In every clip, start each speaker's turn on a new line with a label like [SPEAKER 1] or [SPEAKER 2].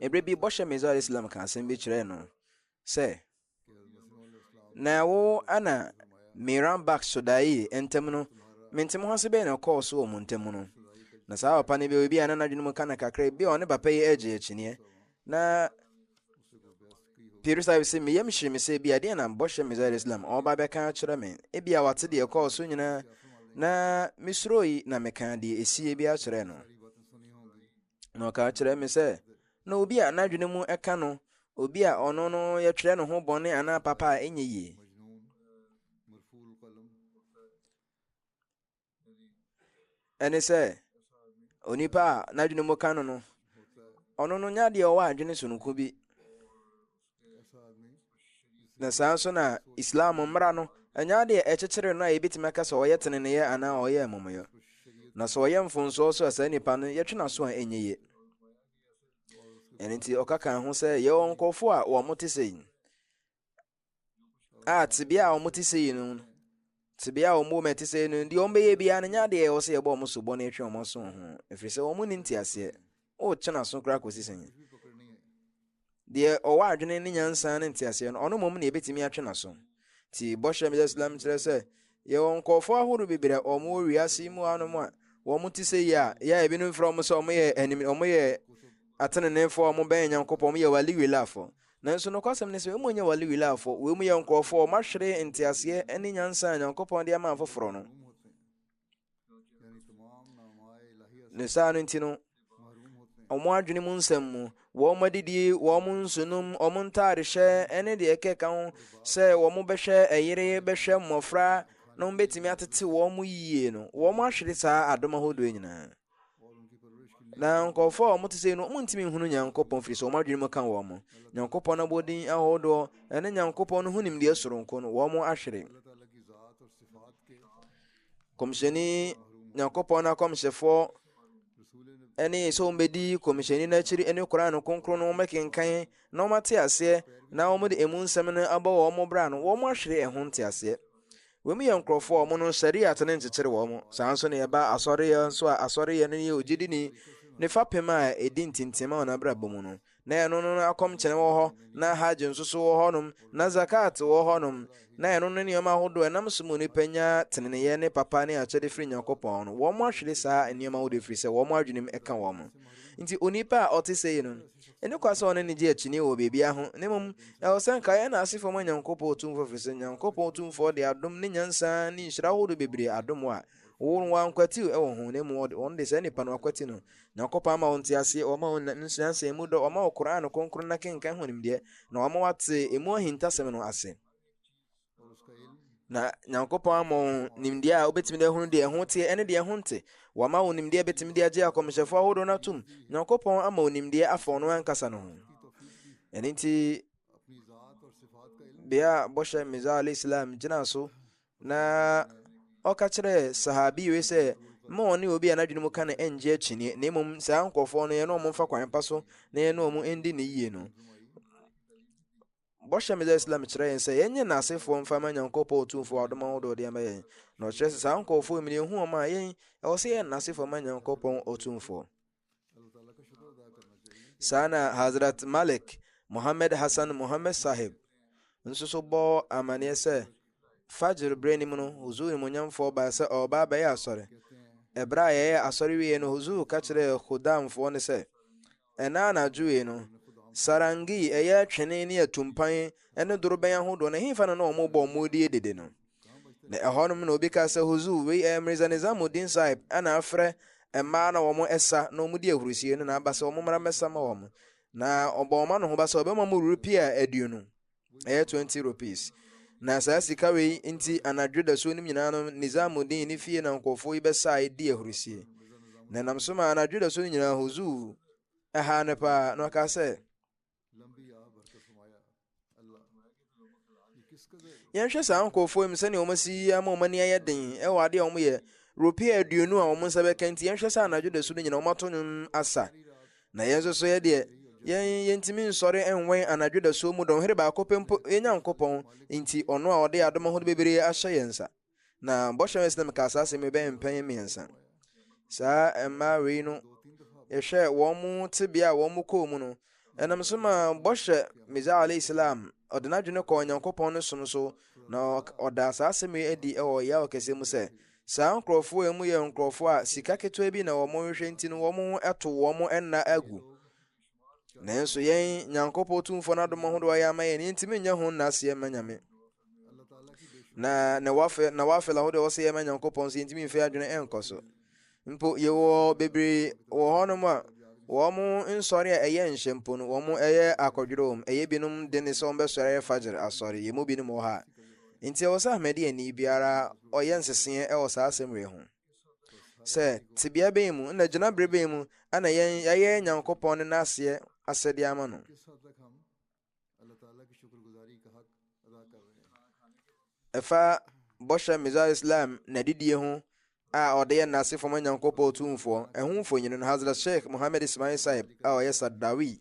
[SPEAKER 1] Ebere bi bɔhyɛ Mirza al-Islam ka asɛm bi kyerɛɛ no sɛ, na ɛwo ana Miran Bak Sodai ntam no, mentem ho ase bɛyɛ na ɛkɔɔ so wɔ mo ntam no. Na saa papa no bi obi a na n'adwene mu ka na kakra bi a ɔne papa yi agye akyineɛ na Piri Sahib sɛ me yam hyere me sɛ bi adeɛ na bɔhyɛ me zaire Islam ɔba bɛka akyerɛ me ebi a wate deɛ ɛkɔɔ so nyinaa na mesuro yi na meka deɛ esie bi akyerɛ no Na ɔka kyerɛ me sɛ, na obi a n'adwene mu ɛka no, obi a ɔno no yɛtwerɛ ne ho bɔne anaa papa a ɛnyɛ yie. Ɛne sɛ, onipa a n'adwene mu ka no no, ɔno no nyɛ adeɛ ɔwɔ adwene sononko bi. na saa nso na islam mmara no ɛnyɛ adeɛ ɛkyekyere no a yɛbɛtumi aka sɛ ɔyɛ teneneeɛ anaa ɔyɛ amumuyɔ na sɛ ɔyɛ mfonsoɔ so a saa nipa no yɛtwe no aso a ɛnyɛ yie ɛno nti ɔka kan ho sɛ yɛwɔ nkurɔfoɔ a wɔn te sɛ yi a tebea a wɔn te sɛ yi no Tebea a wɔn wɔ mu a ɛte sɛɛ no, deɛ wɔbɛyɛ biara no nyɛ adeɛ a ɛwɔ sɛ yɛbɔ wɔn sobo na yɛtwe wɔn aso wɔn ho, ɛfiri sɛ wɔn nni nteaseɛ. Wotwe n'aso koraa kɔsi sɛn? Deɛ ɔwɔ adwene ne nyansa ne nteaseɛ no, ɔno mmom na yɛbɛtumi atwe n'aso. Ti bɔhyɛ Mr. Islam kyerɛ sɛ, yɛwɔ nkurɔfoɔ ahorow bebree a wɔn wɔ wiase yi mu anom a wɔn te sɛ yi a, yɛ a ebinom frɛ wɔn sɛ wɔyɛ anim wɔyɛ ateneneefoɔ a wɔbɛn Nyankopɔn, wɔyɛ wali wilafoɔ. Nanso nokwasɛm ne sɛ, wei mu nyɛ wale wilafoɔ, wei mu yɛ nkurɔfoɔ a wɔahwere nteaseɛ ne nyansa a Nyankopɔn de ama afoforɔ no. Ne saa no nti no, wɔn adwene mu nsɛm mu, wɔn adidie, wɔn nsonom, wɔn ntaarehyɛ ne deɛ ɛkeka ho sɛ wɔn bɛhwɛ ɛyere, bɛhwɛ mmɔfra na wɔbɛtumi atete wɔn yie no, wɔn ahwere saa adom ahodoɔ nyinaa. na nkurɔfoɔ a wɔte sɛ no wɔntumi nhunu nyankopɔn firi sɛ wɔn adwene mu ka wɔn mo nyankopɔn abɔdin ahodoɔ ɛne nyankopɔn no ho nimdeɛ soronko no wɔn ahwere kɔmhyɛni nyankopɔn no akɔmhyɛfoɔ ɛne sɛ wɔbɛdi kɔmhyɛni no akyiri ne koraa no kronkron no wɔbɛkenkan na wɔate aseɛ na wɔde ɛmu nsɛm no abɔ wɔn bra no wɔn ahwere ɛho nteaseɛ Wɔn mu yɛ nkurɔfoɔ a wɔn no Shariat no nkyekyere wɔn. Saa nso na ɛba Asɔreyɛ nso a Asɔreyɛ no yɛ ogyidini ne fapem a ɛdi ntintim ma wɔn abrabɔ mu no. Na ɛno no na akɔmkyene wɔ hɔ, na Hajj nso so wɔ hɔnom, na Zakat wɔ hɔnom. Na ɛno no ne nneɛma ahodoɔ a ɛnam so ma onipa nya teneneeyɛ ne papa ne akyɛde firi Nyankopɔn no. Wɔn ahwere saa nneɛma ahodoɔ yi firi sɛ wɔn adwenem ka wɔn. Nti onipa a ɔte sei no, Ɛne kwa sɛ ɔne no gye akyinnye wɔ biribiara ho, na mmom ɛwɔ sɛ anka yɛn asefo ma Nyankopɔn Tumfoɔ efiri sɛ Nyankopɔn Tumfoɔ de adom ne nyansa ne nhyira horow bebree adom wɔn a wɔn ankwatiw wɔ ho, na mmom wɔn de saa nnipa no akwati no. Nyankopɔn ama wɔn nteaseɛ, wama wɔn nyansa mu dɔ, wama wɔn Qur'aan kronkron no akenkan ho nimdeɛ, na wama wɔate emu ahintasɛm no ase. na nyankopɔn ama wo nimdeɛ a wobɛtumi de ahunu deɛ ɛho teɛ ɛne deɛ ɛho nte wama wo nimdeɛ bɛtumi de agye akɔmhyɛfoɔ ahodoɔ no atom nyankopɔn ama wo nimdeɛ afa ɔno ankasa no ho ɛno nti bea bɔhyɛ meza alayhi islam gyina so na ɔka kyerɛ sahabi wei sɛ ma ɔne obi a n'adwene mu ka no ɛngye akyinie na mmom saa nkurɔfoɔ no yɛne ɔmo mfa kwan pa so na yɛne ɔmo ɛndi ne yie no Bɔhyɛ Meda Islam kyerɛ yɛn sɛ yɛnyɛ nnasefoɔ mfa ma Nyankopɔn Otumfoɔ a ɔdom ahodoɔ deɛ ma yɛn, na ɔkyerɛ sɛ saa nkorɔfoɔ yi mene hu wɔn a yɛn ɛwɔ sɛ yɛyɛ nnasefoɔ ma Nyankopɔn Otumfoɔ. Saa na Hazrat Malik Muhammad Hassan Muhammad Sahib nso so bɔɔ amaneɛ sɛ Fajr berɛ anim no Huzur Nimonyamfoɔ baa sɛ ɔreba abɛyɛ asɔre. Ɛberɛ a yɛyɛ asɔre wieɛ no Huzur ka kyerɛɛ Khudamfoɔ no sɛ Ɛnnɛ anadwo yi no, sarangi, ɛyɛ twene ne atumpan ne dorobɛn ahodoɔ no, ɛhefa na na wɔn bɔ wɔn die dede no? Na ɛhɔ nom na obi ka sɛ, Huzu, wei ɛyɛ Mirza Nizamuddin Sahib na afrɛ mmaa na wɔn ɛsa na wɔn di ahurusie no na aba sɛ wɔn mmra mmɛsa ma wɔn. Na ɔbɔ wɔn anohoba sɛ ɔbɛma wɔn rupia aduonu. ɛyɛ twenty rupees. Na saa sika wei nti anadwo dasuo no nyinaa no Nizamuddin ne fie na nkurɔfoɔ yi bɛsae di ahurisie. Na nam so ma anadwo dasuo no nyinaa huzuu ɛhaa no paa na ɔkaa sɛ yɛnhwɛ saa nkurɔfoɔ yi mu sɛdeɛ wɔn asi yi ama wɔn ani ayɛ den ɛwɔ adeɛ a wɔyɛ rupia aduonu a wɔn nsa bɛka nti yɛnhwɛ sɛ anadwo dasuo no nyinaa wɔn ato nwom asa na yɛn nso so yɛ deɛ yɛn yɛntumi nsɔre nwɛn anadwo dasuo mu dɔnhwere baako pɛ mpo yɛn nyankopɔn nti ɔno a ɔde adom ahodoɔ bebree ahyɛ yɛn nsa na bɔhyɛ wɛn sinam kaa saa asɛm bɛyɛ mpɛn mmiɛnsa saa mmaa wei no yɛhwɛ wɔn mu tebea a wɔn mu kɔɔ mu no ɛnam so ma bɔhyɛ meza alayhi salam ɔde n'adwene kɔɔ nyankopɔn no som so na ɔda saa asɛm yi adi wɔ yaw kɛseɛ mu sɛ Saa nkurɔfoɔ yi mu yɛ nkurɔfoɔ a sika ketewa bi na wɔn hwehwɛ nti no wɔn ho to wɔn nna agu. Nanso yɛn Nyankopɔn Tumfoɔ no adom ahodoɔ a yɛama yɛn yɛntumi nyɛ ho nnaseɛ mma Nyame. Na na wafɛ na wafɛ la ahodoɔ wɔsɛ yɛma Nyankopɔn nso yɛntumi mfɛ adwene ɛnkɔ so. Mpo yɛwɔ bebree wɔ hɔnom a wɔn nsɔre a ɛyɛ nhyɛ mpo no wɔn ɛyɛ akɔdwerɛ wɔn ɛyɛ binom de ne sɛ wɔn bɛsɔre ɛyɛ fagyer asɔre yɛn mu binom wɔ ha Enti ɛwɔ sɛ Ahmadiani biara ɔyɛ nseseɛ wɔ saa asɛm wei ho, sɛ tebea bɛn mu na gyina bere bɛn mu na yɛn yɛayɛ Nyankopɔn ne n'aseɛ asɛdeɛ ama no. Ɛfa bɔhyɛ Mizar Islam na didie ho a ɔde yɛ nnase fam Nyankopɔn Tumfoɔ, ɛho mfonini no, Hazrat Sheikh Muhammad Ismail Sahib a ɔyɛ Saddawi,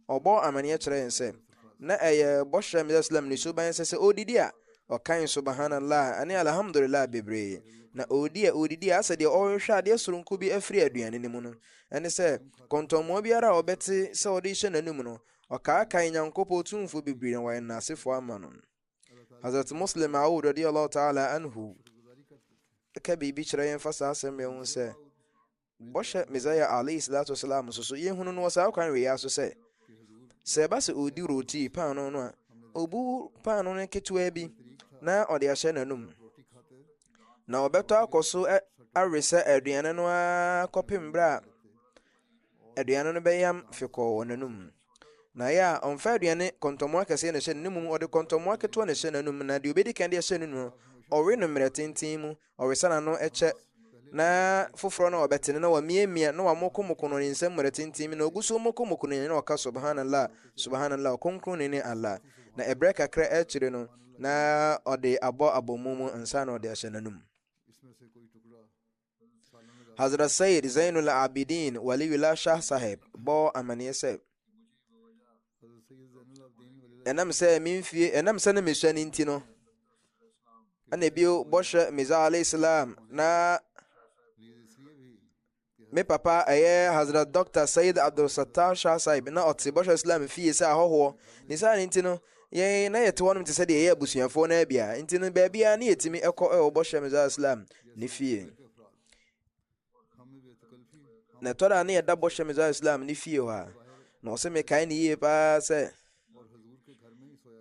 [SPEAKER 1] ɔbɔɔ amanneɛ kyerɛɛ yɛn sɛ, na ɛyɛ bɔhyɛ Mr. Islam ne suban sɛ sɛ ɔredidi a, ɔkan Subhanallah ne Alhamdulillah bebree, na ɔredi a ɔredidi a asɛ deɛ ɔrehwehwɛ adeɛ soronko bi afiri aduane no mu no, ɛne sɛ kɔntɔnmmoa biara a ɔbɛte sɛ ɔde rehyɛ n'anum no, ɔkaakae Nyankopɔn Tumfoɔ bebree na wayɛ nnasefoɔ ama no. Hazrat Muslim Aoud radiyallahu ta'ala anhu ka biribi kyerɛ yɛn fa saa asɛm yɛn ho sɛ bɔhyɛ Messiah alayhi salatu wasalam nso so yɛhunu no wɔ saa kwan wei so sɛ sɛ ɛba sɛ ɔredi roti paano no a ɔbu paano no ketewa bi na ɔde ahyɛ n'anum na ɔbɛtɔ akɔ so awe sɛ aduane no ara kɔpem berɛ a aduane no bɛyam fe kɔɔ wɔn anum. Na ɛyɛ a ɔmfa aduane kɔntɔmmoa kɛseɛ na ɛhyɛ ne mu, ɔde kɔntɔmmoa ketewa na ɛhyɛ n'anum, na deɛ ɔbɛdi kan de ahyɛ ne nu no, ɔwe no mmerɛ tenten mu, ɔwesa n'ano kyɛ, na foforɔ no a ɔbɛtene na wamiamia na wamokomoko no ne nsam mmerɛ tenten mu, na ɔgu so mokomoko no na ɔka subhanallah, subhanallah, ɔkronkron ne ne Allah, na ɛberɛ kakra akyire no, na ɔde abɔ abɔmu mu ansa na ɔde ahyɛ n'anum. Hazrat Sayyid Zainul Abidin Waliullah Shah Sahib bɔɔ amanneɛ sɛ ɛnam sɛ me mfie ɛnam sɛ ne mesua no nti no ɛna bio bɔhyɛ Mirza alayhi salam na me papa ɛyɛ Hazrat Dr. Sayyid Abdul Sattar Shah Sahib na ɔte bɔhyɛ Islam fie sɛ ahɔhoɔ ne saa no nti no Yɛn, na yɛte hɔnom te sɛ deɛ yɛyɛ abusuafoɔ no ara bi a, nti no baabiara na yɛtumi kɔ wɔ bɔhyɛ Mizar Islam ne fie. Na ɛtɔ da na yɛda bɔhyɛ Mizar Islam ne fie hɔ a, na ɔsɛ mekae ne yie paa sɛ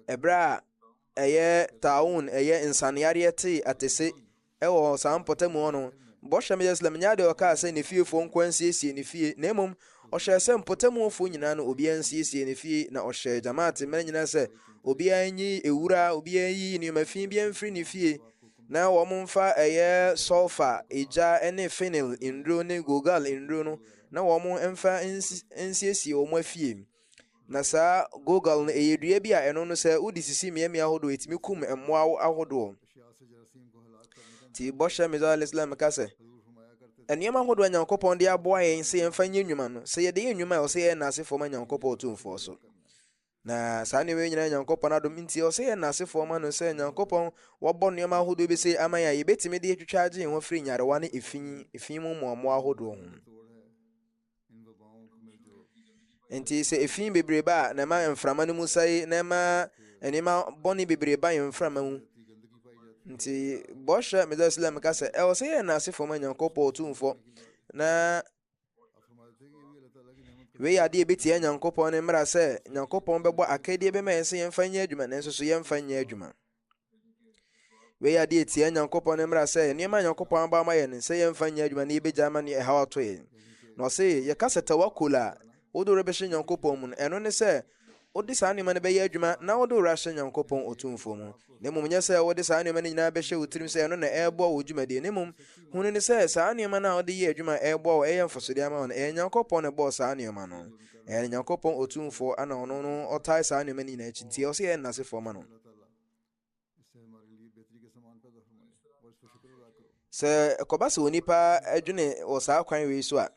[SPEAKER 1] ɛberɛ a ɛyɛ taawun ɛyɛ nsaneyareɛ tee atese Wɔ saa mpɔtamu hɔ no, bɔhyɛ ma Yerusalem nyɛ ade a ɔkaa sɛ ne fiefo nkoa nsiesie ne fie, na mmom ɔhyɛɛ sɛ mpɔtamuwofo nyinaa na obiara nsiesie ne fie, na ɔhyɛɛ Jamaat mma nyinaa sɛ obiara nyi ewura, obiara nyiyi nneɛma fi biara mfiri ne fie, na wɔmfa ɛyɛ sɔlfa, egya, ne fenil nnuro ne gulgal nnuro no, na wɔmfa nsiesie wɔn afie. Na saa gogal no, ɛyɛ dua bi a ɛno no sɛ wode sisi mmeammea ahodoɔ, ɛtumi kum mmoa ahodoɔ. Nti bɔhyɛ Mizar al-Islam ka sɛ, nneɛma ahodoɔ a Nyankopɔn de aboa yɛn sɛ yɛmfa nyɛ nnwuma no, sɛ yɛde yɛ nnwuma a, ɔsɛ yɛyɛ nnasefoɔ ma Nyankopɔn ɔtumfoɔ so. Na saa nneɛma nyinaa Nyankopɔn adom nti, ɔsɛ yɛ nnasefoɔ ma no sɛ Nyankopɔn wabɔ nneɛma ahodoɔ bi sɛ ama yɛn a yɛbɛtumi de atwitwa agye yɛn ho afiri nyarewa ne efi efi mu mmoammoa ahodoɔ ho. Enti sɛ efi bebrebe a, na ɛma mframa no mu sɛe, na ɛma nneɛma bɔne bebree ba yɛn mframa mu. Nti bɔhyɛ Messiah Islam ka sɛ ɛwɔ sɛ yɛyɛ n'asefo ma Nyankopɔn Otumfoɔ na wei yɛ adeɛ ebetia Nyankopɔn ne mmara sɛ Nyankopɔn bɛbɔ akadeɛ bɛma yɛn sɛ yɛmfa nyɛ adwuma nanso so yɛmfa nyɛ adwuma. Wei ade etia Nyankopɔn ne mmara sɛ nneɛma a Nyankopɔn abɔ ama yɛn sɛ yɛmfa nyɛ adwuma na yɛbɛgya ama ne ɛhaw ato yɛn. Na ɔse yɛka sɛ tawakkul a wode wo bɛhyɛ Nyankopɔn mu no, ɛno ne sɛ wode saa nneɛma no bɛyɛ adwuma na wode wo ahyɛ Nyankopɔn Otumfoɔ mu, na mmom nyɛ sɛ wode saa nneɛma no nyinaa bɛhyɛ wo tirim sɛ ɛno na ɛreboa wo dwumadie, na mmom hunu ne sɛ saa nneɛma no a wode yɛ adwuma a ɛreboa wo, ɛyɛ mfasodeɛ ama wo no, ɛyɛ Nyankopɔn na ɛbɔɔ saa nneɛma no. Ɛyɛ ne Nyankopɔn Otumfoɔ, ɛna ɔno no ɔtae saa nneɛma no nyinaa akyi, nti ɛwɔ sɛ yɛyɛ nnasefoɔ ma no. sɛ ɛkɔba sɛ onipa adwene wɔ saa kwan wei so a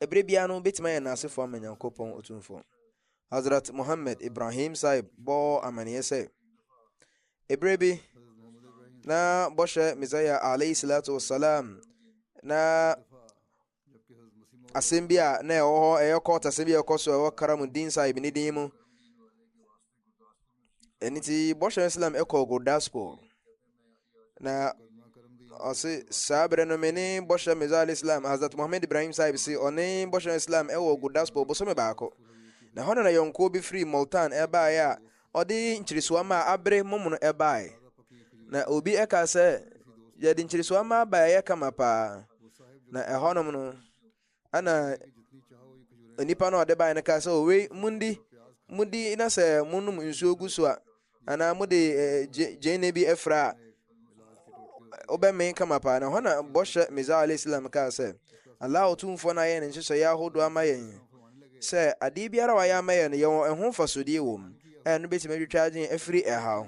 [SPEAKER 1] ɛberɛ biara no bɛtumi ayɛ n'asefoɔ ama nyankopɔn ɔtumfoɔ hazrat mohammed ibrahim saib bɔɔ amaneɛ sɛ ɛberɛ bi na bɔhyɛ messiah alayhi salatu wasalam na asɛm bi a na ɛwɔ hɔ ɛyɛ court asɛm bi a ɛkɔ so ɛwɔ karamudin sahib ne din mu ɛne ti bɔhyɛ islam ɛkɔ gurdaspur na ɔse saa berɛ no me ne bɔhyɛ mizal islam hazrat mohammed ibrahim sahib se ɔne bɔhyɛ islam ɛwɔ gurdaspur bosome baako na hɔ na na yɔnkoɔ bi firi multan ɛbaeɛ a Ɔde nkyeresoama a abere momono bae. Na obi ka sɛ, yɛde nkyeresoama bae ɛyɛ kama paa. Na ɛhɔnom no, ɛna nipa no a ɔde bae no ka sɛ, owei, mundi, mudi na sɛ monom nsuo gu so a, anaa mode eh, gyeene bi afira a, wobɛmee kama paa na hɔ na bɔhyɛ mizaa alayhi salam kaa sɛ allah ɔtumfoɔ no ayɛ ne nhyehyɛeɛ ahodoɔ ama yɛn sɛ adeɛ biara wayɛ ama yɛn no yɛwɔ ɛho mfasodeɛ wɔ mu ɛyɛ no bɛtumi atwitwa adwene afiri ɛha ho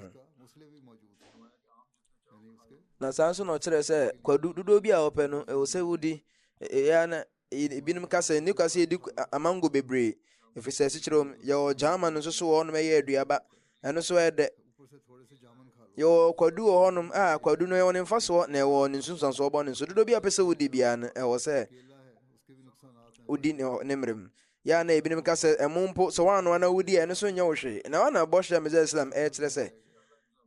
[SPEAKER 1] na saa nso na ɔkyerɛ sɛ kwadu dodoɔ bi a wɔpɛ no ɛwɔ sɛ wodi ɛyɛ na Eyi ebinom ka sɛ ne kwasi edi amango bebree efiri sɛ esikyerɛ wɔn yɛwɔ German nso so wɔ hɔnom ɛyɛ aduaba ɛno nso ɛyɛ dɛ yɛwɔ kwadu wɔ hɔnom a kwadu no ɛwɔ ne mfasoɔ na ɛwɔ ne nsunsuansoɔ bɔ ne nso dodo bi a pɛ sɛ wodi biara no ɛwɔ sɛ wodi ne ne mmerɛ mu yɛ a na ebinom ka sɛ ɛmo mpo sɛ wɔanoa na wodi a ɛno nso nyɛ wo hwee na wɔn na bɔhyɛ a mizɛ islam ɛkyerɛ sɛ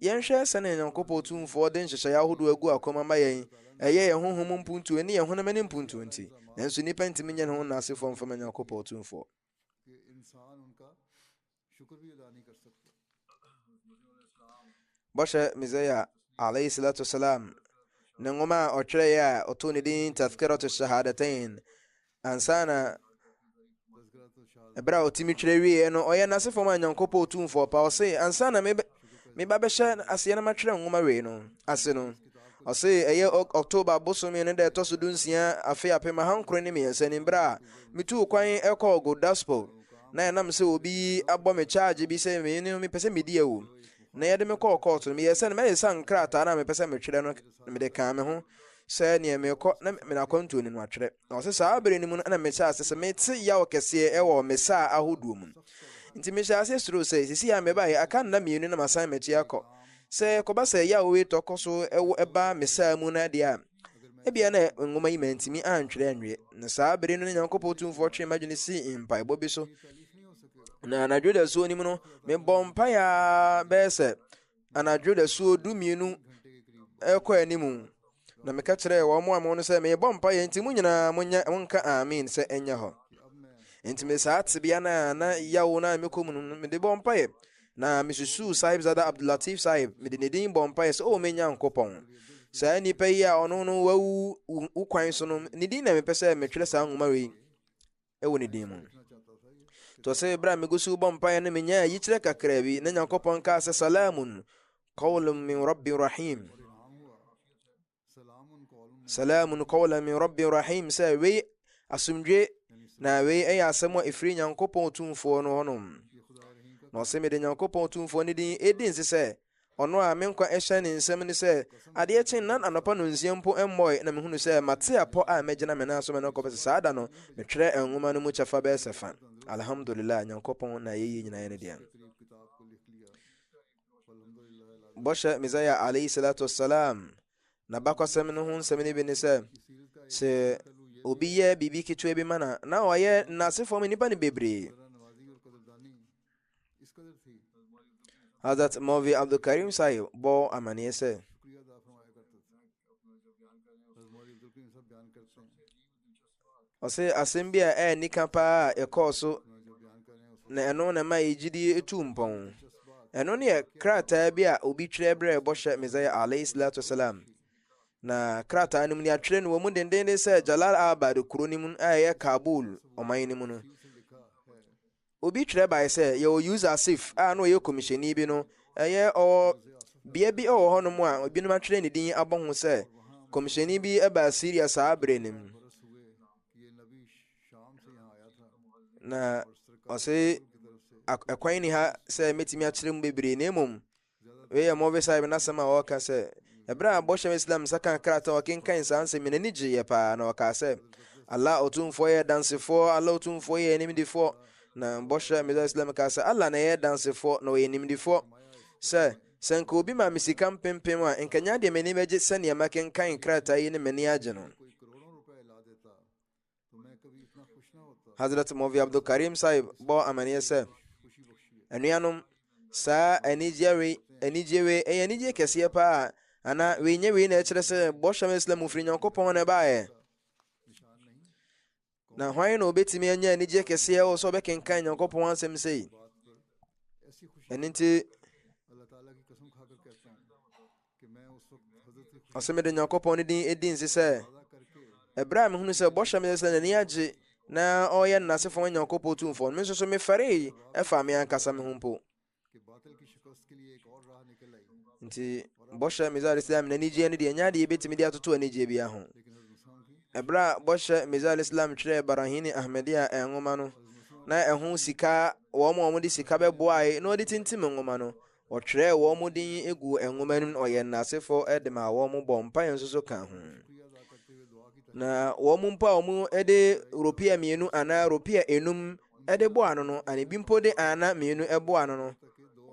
[SPEAKER 1] Yɛnhwɛ sɛnea Nyankopɔn Tumfoɔ de nhyehyɛe ahodoɔ agu akwan mu ama yɛn, ɛyɛ yɛn honhom mu mpuntuo ɛne yɛn honam ani mpuntuo nti. Nanso nnipa ntumi nyɛ ne ho nnasefoɔ mfama Nyankopɔn Tumfoɔ. Bɔhyɛ Mesia, alayhi salatu wasalam, ne nwoma a ɔtwerɛeɛ a ɔtoo ne din Tazkiratu Shahadatain, Ansa na ɛberɛ a ɔtumi twerɛ wieɛ no ɔyɛ n'asefoɔ ma nyankopɔn ɔtumfoɔ pa ɔse ansa na meba bɛhyɛ aseɛ no matwerɛ nwoma wei no ase no ɔse ɛyɛ october bosome no da ɛtɔ so du nsia afe apem ahankoro ne mmiɛnsa ni berɛ a metuu kwan ɛkɔɔ godaspo na ɛnam sɛ obi abɔ me charge bi sɛ me no mepɛ sɛ medi awu na yɛde me kɔɔ kɔɔto no meyɛ sɛ no mɛyɛ sa nkrataa no a mepɛ sɛ metwerɛ no mede kaa me ho sɛ neɛ mekɔ na menakwantuo no no atwerɛ Na ɔse, saa bere no mu no na mehyɛɛ ase sɛ mete yaw kɛseɛ wɔ me saa ahodoɔ mu. Nti mehyɛɛ ase suroo sɛ, sesei a mebaeɛ, aka nna mmienu na masan m'akyi akɔ. Sɛ ɛkɔba sɛ yaw wei tɔ kɔ so wɔ ɛba me saa mu no deɛ a, ebia na nwoma yi mantumi antwerɛ anwie. Na saa bere no na Nyankopɔn Tumfoɔ twee m'adwene sii mpaebɔ bi so. Na anadwo dasuo no mu no, mebɔɔ mpaeɛ ara bɛyɛ sɛ anadwo dasuo dumienu ɛkɔ anim na meka kyerɛɛ wɔn a mo no sɛ merebɔ mpaeɛ nti mo nyinaa monyɛ monka amen sɛ ɛnyɛ hɔ nti me saa tebea no a na yawo no a mekɔ mu no mede bɔ mpaeɛ na mesusuu sahib zada abdulatif sahib mede ne din bɔ mpaeɛ sɛ o oh, me nyankopɔn saa nnipa yi a ɔno no wawu wo kwan so no ne din na mepɛ sɛ metwerɛ saa nwoma wei wɔ ne din mu tɔ sɛ berɛ a megu so bɔ mpaeɛ no menyaa yikyerɛ kakraa bi na nyankopɔn kaa sɛ salamun qawlun min rabbin rahim salamun qawlan min rabbin rahim sɛ wei asomdwe na wei ɛyɛ asɛm a ɛfiri nyankopɔn tumfoɔ no hɔnom na ɔsɛ mede nyankopɔn tumfoɔ no din ɛdi nse sɛ Ɔno a me nkwa hyɛ ne nsam no sɛ adeɛ kye nna anɔpa nonsia mpo mmɔe na mehunu sɛ mate apɔ a mɛgyina me nan so mene no kɔpɛ sɛ saa da no metwerɛ nwoma no mu kyɛfa bɛyɛ sɛ fa. Alhamdulillah, Nyankopɔn na yɛyie nyinaa yɛ ne dea. Bɔhyɛ Mizaya alayhi salatu wassalam na bakwasɛm no ho nsɛm no bi ne sɛ sɛ obi yɛ biribi ketewa bi ma na na ɔyɛ n'asefoɔ mu nnipa no bebree Hazrat Maulvi Abdul Karim Sahib bɔ amanneɛ sɛ ɔsɛ asɛm bi a ɛyɛ nika paa a ɛkɔɔ so na ɛno na ɛma yɛ gyidie etu mpɔn ɛno ne yɛ krataa bi a obi twerɛ berɛ bɔhyɛ mesaia alayhi salatu wasalam na krataa no mu ne atwerɛ no wɔ mu dendenden sɛ jalal abad kuro no mu a ɛyɛ kabul ɔman no mu no Obi twerɛ bae sɛ yɛwɔ User Sif a na ɔyɛ kɔmihyɛni bi no, ɛyɛ ɔwɔ bea bi wɔ hɔnom a ebinom atwerɛ ne din abɔ ho sɛ kɔmihyɛni bi baa Syria saa berɛ no mu. Na ɔse ɛkwan ni ha sɛ mɛtumi akyerɛ mu bebree na mmom Wei yɛ Mowzey Saib n'asɛm a ɔreka sɛ, Ɛberɛ a Bɔhyɛm Islam nsa kaa krataa a ɔkenkan saa nsɛm yi no, n'ani gyeeɛ paa, na ɔkaa sɛ, Allah Otumfoɔ yɛ Dansefoɔ, Allah Otumfoɔ yɛ Animdefoɔ. Na Bɔhyɛ Mizal Islam kaa sɛ, Allah na ɛyɛ Dansefoɔ, na ɔyɛ Nimdefoɔ. Sɛ, sɛ nka obi ma me sika mpempem a, nka nyɛ adeɛ m'ani bɛgye sɛdeɛ makenkan krataa yi ne m'ani agye no. Hazrat Mɔvi Abdul Karim Sahib bɔ amaneɛ sɛ, anuanom, saa anigyeɛ wei, anigyeɛ wei, ɛyɛ anigyeɛ kɛseɛ paa, ana wei nyɛ wei na ɛkyerɛ sɛ bɔhyɛm Islam mu firi Nyankopɔn na ɛbaeɛ. Na hwan na obetumi anya anigyeɛ kɛseɛ wɔ sɛ ɔbɛkenkan Nyankopɔn asɛm sei? Ɛno nti, Na sɛ mede Nyankopɔn no din di nse sɛ, ɛberɛ a mehunu sɛ bɔhyɛ me sɛ n'ani agye na ɔyɛ n'asefo ma Nyankopɔn tumfoɔ no, me nso so mefɛree ɛfa me ankasa me ho mpo. Nti, bɔhyɛ Mizari Islam n'anigyeɛ no deɛ ɛnyɛ adeɛ yɛbɛtumi de atoto anigyeɛ bia ho. Ɛberɛ a bɔhyɛ Mizari Islam twerɛɛ Barahini Ahmadiyya nwoma no, na ɛho sika wɔn a wɔde sika bɛboae na wɔde tintim nwoma no Wɔtwerɛɛ wɔn din guu nwoma no mu na wɔyɛ nnasefoɔ de maa wɔn bɔ mpaeɛ nso so ka ho. Na wɔn mpo a wɔde ropia mmienu anaa ropia enum de bɔ ano no, ana ebi mpo de ana mmienu bɔ ano no,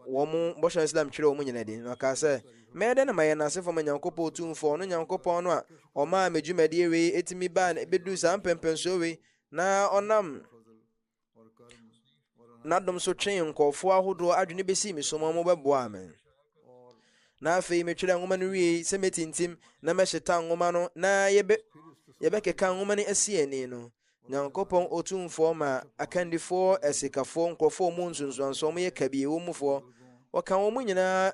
[SPEAKER 1] wɔn bɔhyɛ Islam twerɛ wɔn nyina din. Na ɔkaa sɛ, mɛyɛ dɛ na mayɛ nnasefoɔ ma Nyankopɔn tumfoɔ, ɔno Nyankopɔn no a ɔmaa me dwumadie wei ɛtumi baa ɛbɛduu saa mpɛmpɛnsoɔ wei, na ɔnam N'adom so twee nkurɔfoɔ ahodoɔ adwene bɛsii me so ma wɔbɛboaa me. Na afei metwerɛ nwoma no wiei sɛ mɛtintim na mɛhyeta nwoma no na yɛbɛ yɛbɛkeka nwoma no asi ani no. Nyankopɔn Otumfoɔ ma akandifoɔ, asikafoɔ, nkurɔfoɔ mu nsunsuansoɔ, wɔn yɛ kabie, wɔn mufoɔ, wɔka wɔn nyinaa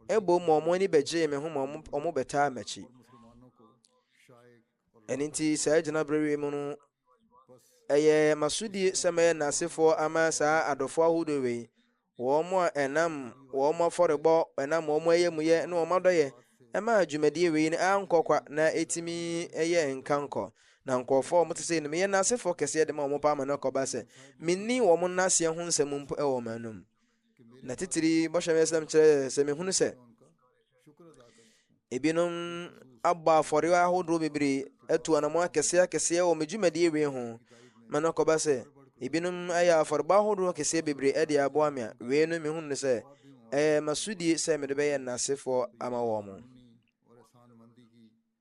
[SPEAKER 1] ɛbom ma wɔn ani bɛgyee me ho ma wɔn bɛtaa m'akyi. Ɛno nti saa gyinaberɛ wei mu no, ɛyɛ masodie sɛ mɛyɛ n'asefoɔ ama saa adɔfoɔ ahodoɔ wei, wɔn a ɛnam wɔn afɔrebɔ, ɛnam wɔn ayamuyɛ ne wɔn adɔyɛ ɛma dwumadie wei no ankɔ kwa na ɛtumi ɛyɛ nkankɔ na nkurɔfoɔ wɔn te sɛ no meyɛ n'asefoɔ kɛseɛ de ma wɔn paa ma no kɔba sɛ menni wɔn nnaseɛ ho nsɛm mpo ɛwɔ wɔn anum Na titiri bɔhyɛ me asɛm kyerɛ sɛ mehunu sɛ ebinom abɔ afɔre ahodoɔ bebree atu anamɔ akɛseɛ akɛseɛ wɔ me dwumadie wei ho ma no kɔba sɛ ebinom ayɛ afɔrebɔ ahodoɔ kɛseɛ bebree ɛde aboa me a wei no mehunu sɛ ɛyɛ masodie sɛ mede bɛyɛ nnasefoɔ ama wɔn mo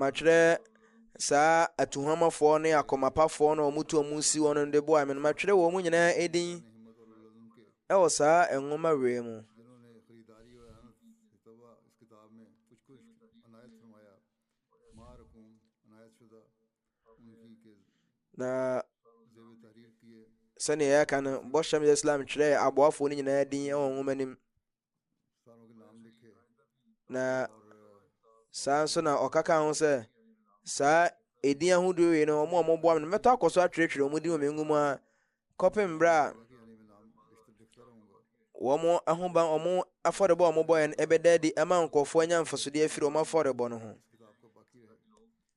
[SPEAKER 1] matwerɛ saa atuhomafoɔ ne akɔmapafoɔ na wɔtu wɔn si wɔn de boa me no matwerɛ wɔn nyinaa edin ɛwɔ saa nwoma wei mu na sɛnea yɛaka no bɔhyɛm yɛ islam twerɛɛ aboafoɔ no nyinaa din wɔ nwoma no mu na saa nso na ɔka ka ho sɛ saa ɛdin ahodoɔ wei no ɔmo a ɔmoboa me no mɛtɔ akɔ so atwerɛtwerɛ ɔmo din wɔ me nwoma a kɔpem berɛ a wɔn ahoban wɔn afɔrebɔ a wɔbɔeɛ no ɛbɛda adi ama nkurɔfoɔ anya mfasodeɛ afiri wɔn afɔrebɔ no ho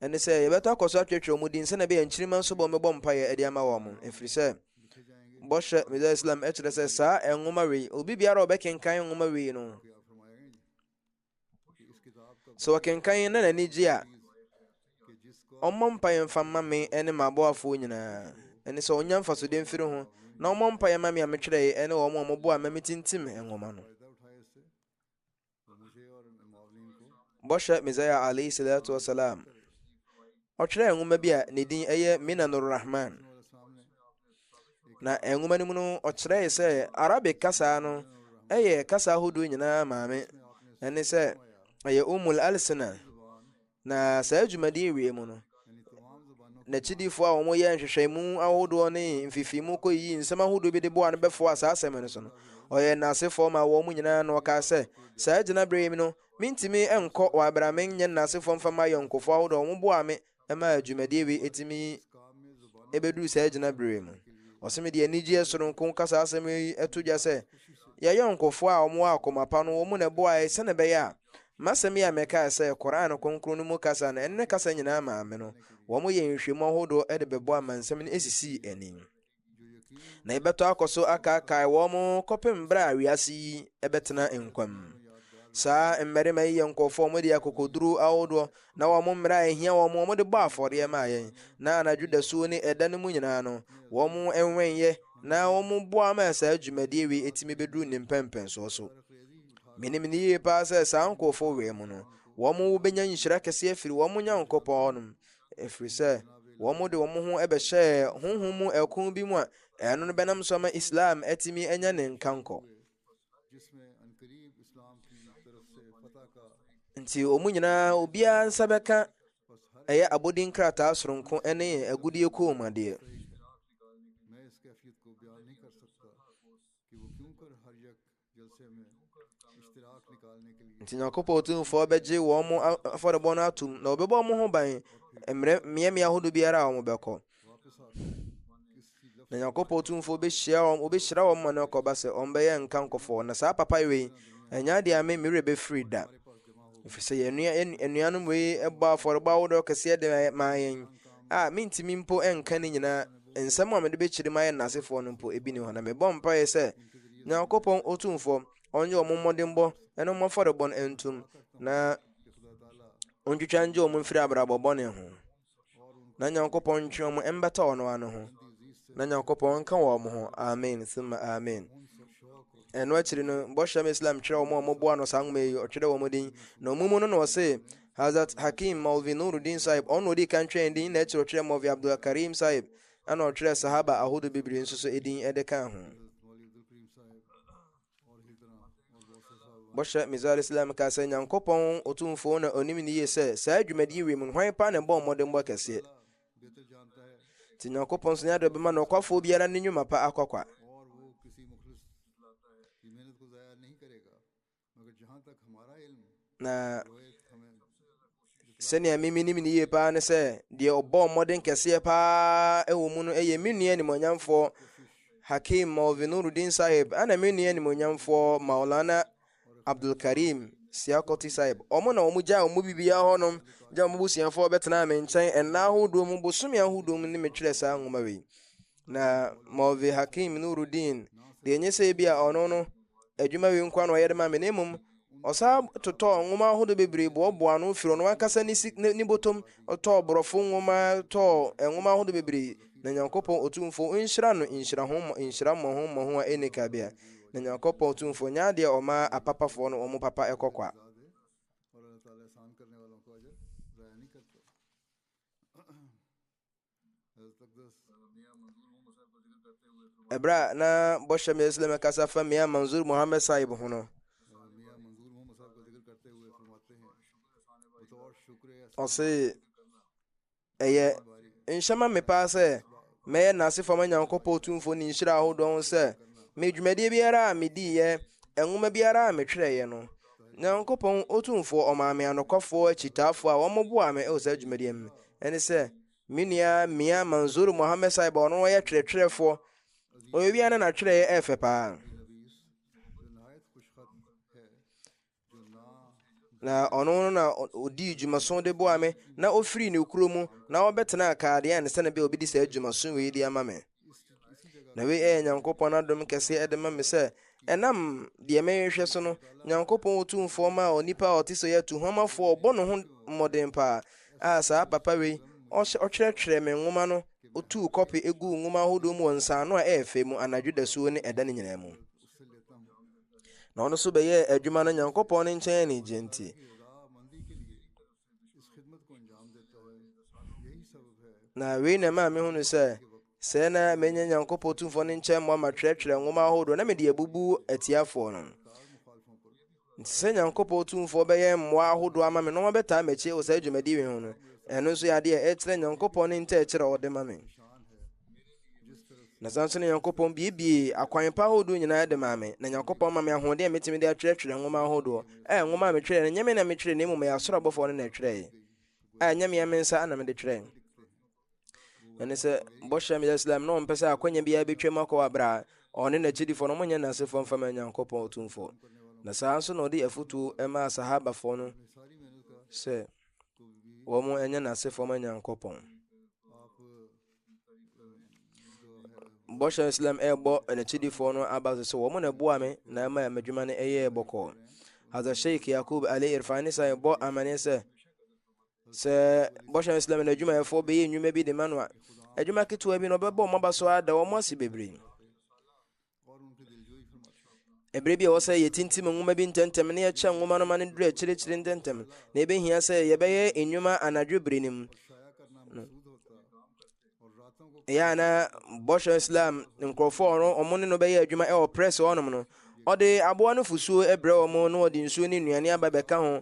[SPEAKER 1] ɛne sɛ yɛbɛtɔ akɔ so atwetwe wɔn din sɛnea ɛbɛyɛ nkyirima nso bɔ wɔbɛbɔ mpaeɛ ɛde ama wɔn ɛfiri sɛ bɔhyɛ meda islam ɛkyerɛ sɛ saa nwoma wei obi biara a ɔbɛkenkan nwoma wei no Sɛ ɔkenkan na n'ani gye a, ɔmmɔ mpaeɛ mfa mma me ne m'aboafoɔ nyinaa. Ɛne sɛ ɔnya mfasodeɛ mfiri ho na ɔmmɔ mpaeɛ ma me a metwerɛeɛ ne wɔn a wɔboa ma metintim nwoma no. Bɔhyɛ Mesaia alayhi salatu wasalam Ɔtwerɛɛ nwoma bi a ne din yɛ Minanur Rahman, na nwoma no mu no ɔkyerɛe sɛ Arabic kasa no yɛ kasa ahodoɔ nyinaa maame, ɛne sɛ ɛyɛ Umul Alsina, na saa dwumadie wie mu no n'akyidifoɔ a wɔyɛ nhwehwɛmu ahodoɔ ne mfifimu kɔyiyi nsɛm ahodoɔ bi de boa no bɛfoɔ a saa asɛm no so no ɔyɛ n'asefoɔ ma wɔn nyinaa na ɔkaa sɛ saa gyinaberɛ yi no Mintumi nkɔ wɔ aber a mennyɛ ndaasefo mmfa m'ayɔnkofo ahodoɔ a wɔboaa me maa dwumadie wei etumi ebeduru saa gyinaber yi mu. Ɔse mede anigyeɛ soronko kasa asɛm yi to dwa sɛ y'ayɔnkofo a wɔwɔ akoma pa no wɔn na ɛboae sɛn ɛbɛyɛ a m'asɛm yi a mɛkae sɛ Qur'aan kronkron no mu kasa na ɛne ne kasa nyinaa maa me no wɔyɛɛ nhwehwɛmu ahodoɔ de bɛboa ma nsɛm no esisii anim. na yɛbɛtɔ akɔ so akaakae wɔn kɔpem berɛ a wiase yi ɛbɛtena nkwam saa mmarima yi yɛ nkɔfoɔ wɔn de akokoduro ahodoɔ na wɔn mmerɛ a ɛhia wɔn wɔn de bɔ afɔdeɛ ma yɛn na anadwo dasuo ne ɛda no mu nyinaa no wɔn ɛnwɛnyɛ na wɔn boa ma saa dwumadie wei ɛtumi bɛduru ne mpɛmpɛnsoɔ so menim ne yie paa sɛ saa nkɔfoɔ wei mu no wɔn wobɛnya nhyira kɛseɛ firi wɔn nyankopɔn nom Ɛfiri sɛ, wɔde wɔn ho bɛhyɛɛ honhom mu ɛko bi mu a ɛno no bɛnam so ama Islam atumi anya ne nkankɔ. Nti wɔn nyinaa obiara nsa bɛka ɛyɛ abodin krataa soronko ne agudie koomadeɛ. Enti Nyankopɔn Tumfoɔ bɛgye wɔn mo afɔrebɔ no atom, na wɔbɛbɔ wɔn ho ban mmerɛ mmeammea ahodoɔ biara a wɔbɛkɔ. Na Nyankopɔn Tumfoɔ bɛhyia wɔn, wɔbɛhyira wɔn ma no akɔba sɛ wɔn bɛyɛ nka nkɔfoɔ. Na saa papa wei, ɛnyɛ adeɛ a me mmerɛ bɛfiri da. Ɛfiri sɛ yɛn anuanom wei bɔ afɔrebɔ ahodoɔ kɛseɛ de maa yɛn a mentumi mpo nka ne nyinaa nsɛm a mede bɛkyerɛ mu ayɛ nnasefoɔ no mpo ebi ne hɔ na mebɔ mpaeɛ sɛ Nyankopɔn Otumfoɔ, ɔnye wɔn mmɔdenbɔ ne wɔn afɔrebɔ no ntom, na ontwitwa ngye wɔn mfiri abrabɔ bɔne ho. Na Nyankopɔn ntwe wɔn mbɛtɔ ɔno ano ho. Na Nyankopɔn nka wɔn ho. Amen. Sima amen. ɛno akyiri no bɔhyɛm islam kyerɛ wɔn a wɔboa no saa nwoma yi ɔtwerɛ wɔn din na wɔn mu no na ɔse hazrat hakim malvi nurudin sahib ɔno ɔdi kan twerɛ din na akyiri ɔtwerɛ malvi abdulkarim sahib Ɛna ɔtwerɛ sahaba ahodoɔ bebree nso so edin ɛde kaa ho. bɔhyɛ mizar islam ka sɛ nyankopɔn ɔtumfoɔ na ɔnim ne yie sɛ saa dwumadi wei mu hwan paa na ɛbɔ mmɔdenbɔ kɛseɛ nti nyankopɔn nso nyɛ de bɛma no ɔkwafoɔ biara ne nnwuma pa akɔkwa Na sɛnea me menim no yie paa ne sɛ deɛ ɔbɔ mmɔden kɛseɛ paa wɔ mu no ɛyɛ me nua animonyamfoɔ hakim malvinurudin sahib ɛna me nua animonyamfoɔ maulana abdulkarim siakɔti sahib ɔmo na ɔmo gya ɔmo bibia hɔnom gya ɔmo busuafoɔ bɛtenaa me nkyɛn ɛnna ahodoɔ mu bosome ahodoɔ mu ne me twerɛ saa nwoma wei Na Mawlvi Hakim Nuruddin deɛ enye sɛ ebi a ɔno no adwuma wei nkoa na ɔyɛ de ma me na mmom ɔsaa totɔɔ nwoma ahodoɔ bebree boɔboa ano firi ɔno ankasa ne si ne botom ɔtɔɔ borɔfo nwoma tɔɔ nwoma ahodoɔ bebree na nyankopɔn otumfo nhyira no nhyira ho nhyira mmɔho mmɔho a ɛne kabea na nyankopɔn otumfo nyɛ adeɛ ɔma apapafoɔ no wɔn papa ɛkɔkɔa ɛberɛ a na bɔhyɛ mɛ islam kasa fa mia manzur mohammed sahib ho no ɔse ɛyɛ nhyɛma me paa sɛ mɛyɛ nase fam nyankopɔn tumfoɔ ne nhyira ahodoɔ ho sɛ me dwumadie biara a mediiɛ nwoma biara a metwerɛeɛ no nyankopɔn ɔtumfoɔ ɔmaa me anokwafoɔ akyitaafoɔ a wɔmoboa me ɛwɔ saa dwumadie mu Ɛne sɛ, me nua Mia Manzoor Mohammed Sahib a ɔno ɔyɛ twerɛtwerɛfoɔ. Ɔyɛ wia na n'atwerɛeɛ ɛyɛ fɛ paa. na ɔno no na ɔdii dwumaso de boa me na ɔfiri ne kuro mu na ɔbɛtenaa Kaadian sɛne bɛ ɔbɛdi saa dwumaso wei de ama me Na wei ɛyɛ Nyankopɔn adom kɛseɛ ɛde ma me sɛ ɛnam deɛ mɛhwehwɛ so no Nyankopɔn ɔtumfoɔ ma a onipa a ɔte sɛ yɛ atuhomafoɔ ɔbɔ ne ho mmɔden paa a saa papa wei ɔtwerɛtwerɛ me nwoma no ɔtuu kɔpe ɛguu nwoma ahodoɔ mu wɔ nsaano a ɛyɛ fɛ mu anadwo dasuo ne ɛda no nyinaa mu na ɔno nso bɛyɛɛ adwuma no Nyankopɔn ne nkyɛn anigyeɛ nti na wei na ɛmaa mehunu sɛ sɛ na menya nyankopɔn tumfoɔ no nkyɛn mmoa matwerɛtwerɛ nwoma ahodoɔ na mede abubu atiafoɔ no nti sɛ nyankopɔn tumfoɔ bɛyɛ mmoa ahodoɔ ama me na wɔbɛtaa m'akyi wɔ saa dwumadi wei ho no ɛno nso yɛ adeɛ ɛkyerɛ nyankopɔn ne nkyɛ ɛkyerɛ ɔde ma me Na saa nso na Nyankopɔn biebiee akwan pa ahodoɔ nyinaa de maa me, na Nyankopɔn ma me ahoɔden a metumi de atwerɛtwerɛ nwoma ahodoɔ. Ɛyɛ nwoma a metwerɛɛ no, nyɛ me na metwerɛɛ na mmom ɛyɛ asoro abɔfoɔ no na ɛtwerɛɛ, a ɛnyɛ me a me nsa na mede twerɛɛ. Ɛne sɛ bɔhyɛ meyɛ Islam na ɔmpɛ sɛ akwanya biara bɛtwam akɔ wɔ abrɛ a ɔne n'akyidifoɔ no monyɛ nansefoɔ mfa ma Nyankopɔn ɔtumfoɔ. Na saa nso na ɔde afotuo ɛmaa sahabafoɔ no sɛ wɔn ɛnyɛ n'asefoɔ ma Nyankopɔn. bɔhyɛ islam ɛbɔ n'akyidifoɔ no aba so sɛ wɔn na ɛboa me na ɛma m'adwuma no ɛyɛɛ bɔkɔɔ hadha sheikh yakub ali irfan ne san bɔ amane sɛ sɛ bɔhyɛ islam no adwumayɛfoɔ bɛyɛ nnwuma bi de ma no a adwuma ketewa bi na ɔbɛbɔ wɔn aba so ada wɔn ase bebree Ebere bi a ɛwɔ sɛ yɛtintim nwoma bi ntɛmntɛm na yɛkyɛ nwoma no ma no duru akyirikyiri ntɛmntɛm na ebehia sɛ yɛbɛyɛ nnwuma anadwo bere no mu ɛyɛ a na bɔhyɛ islam nkurɔfoɔ ɔno ɔmo ne no bɛyɛ adwuma ɛwɔ press ɔnom no ɔde aboa no fusuo ɛbrɛ ɔmo na ɔde nsuo ne nnuane aba bɛka ho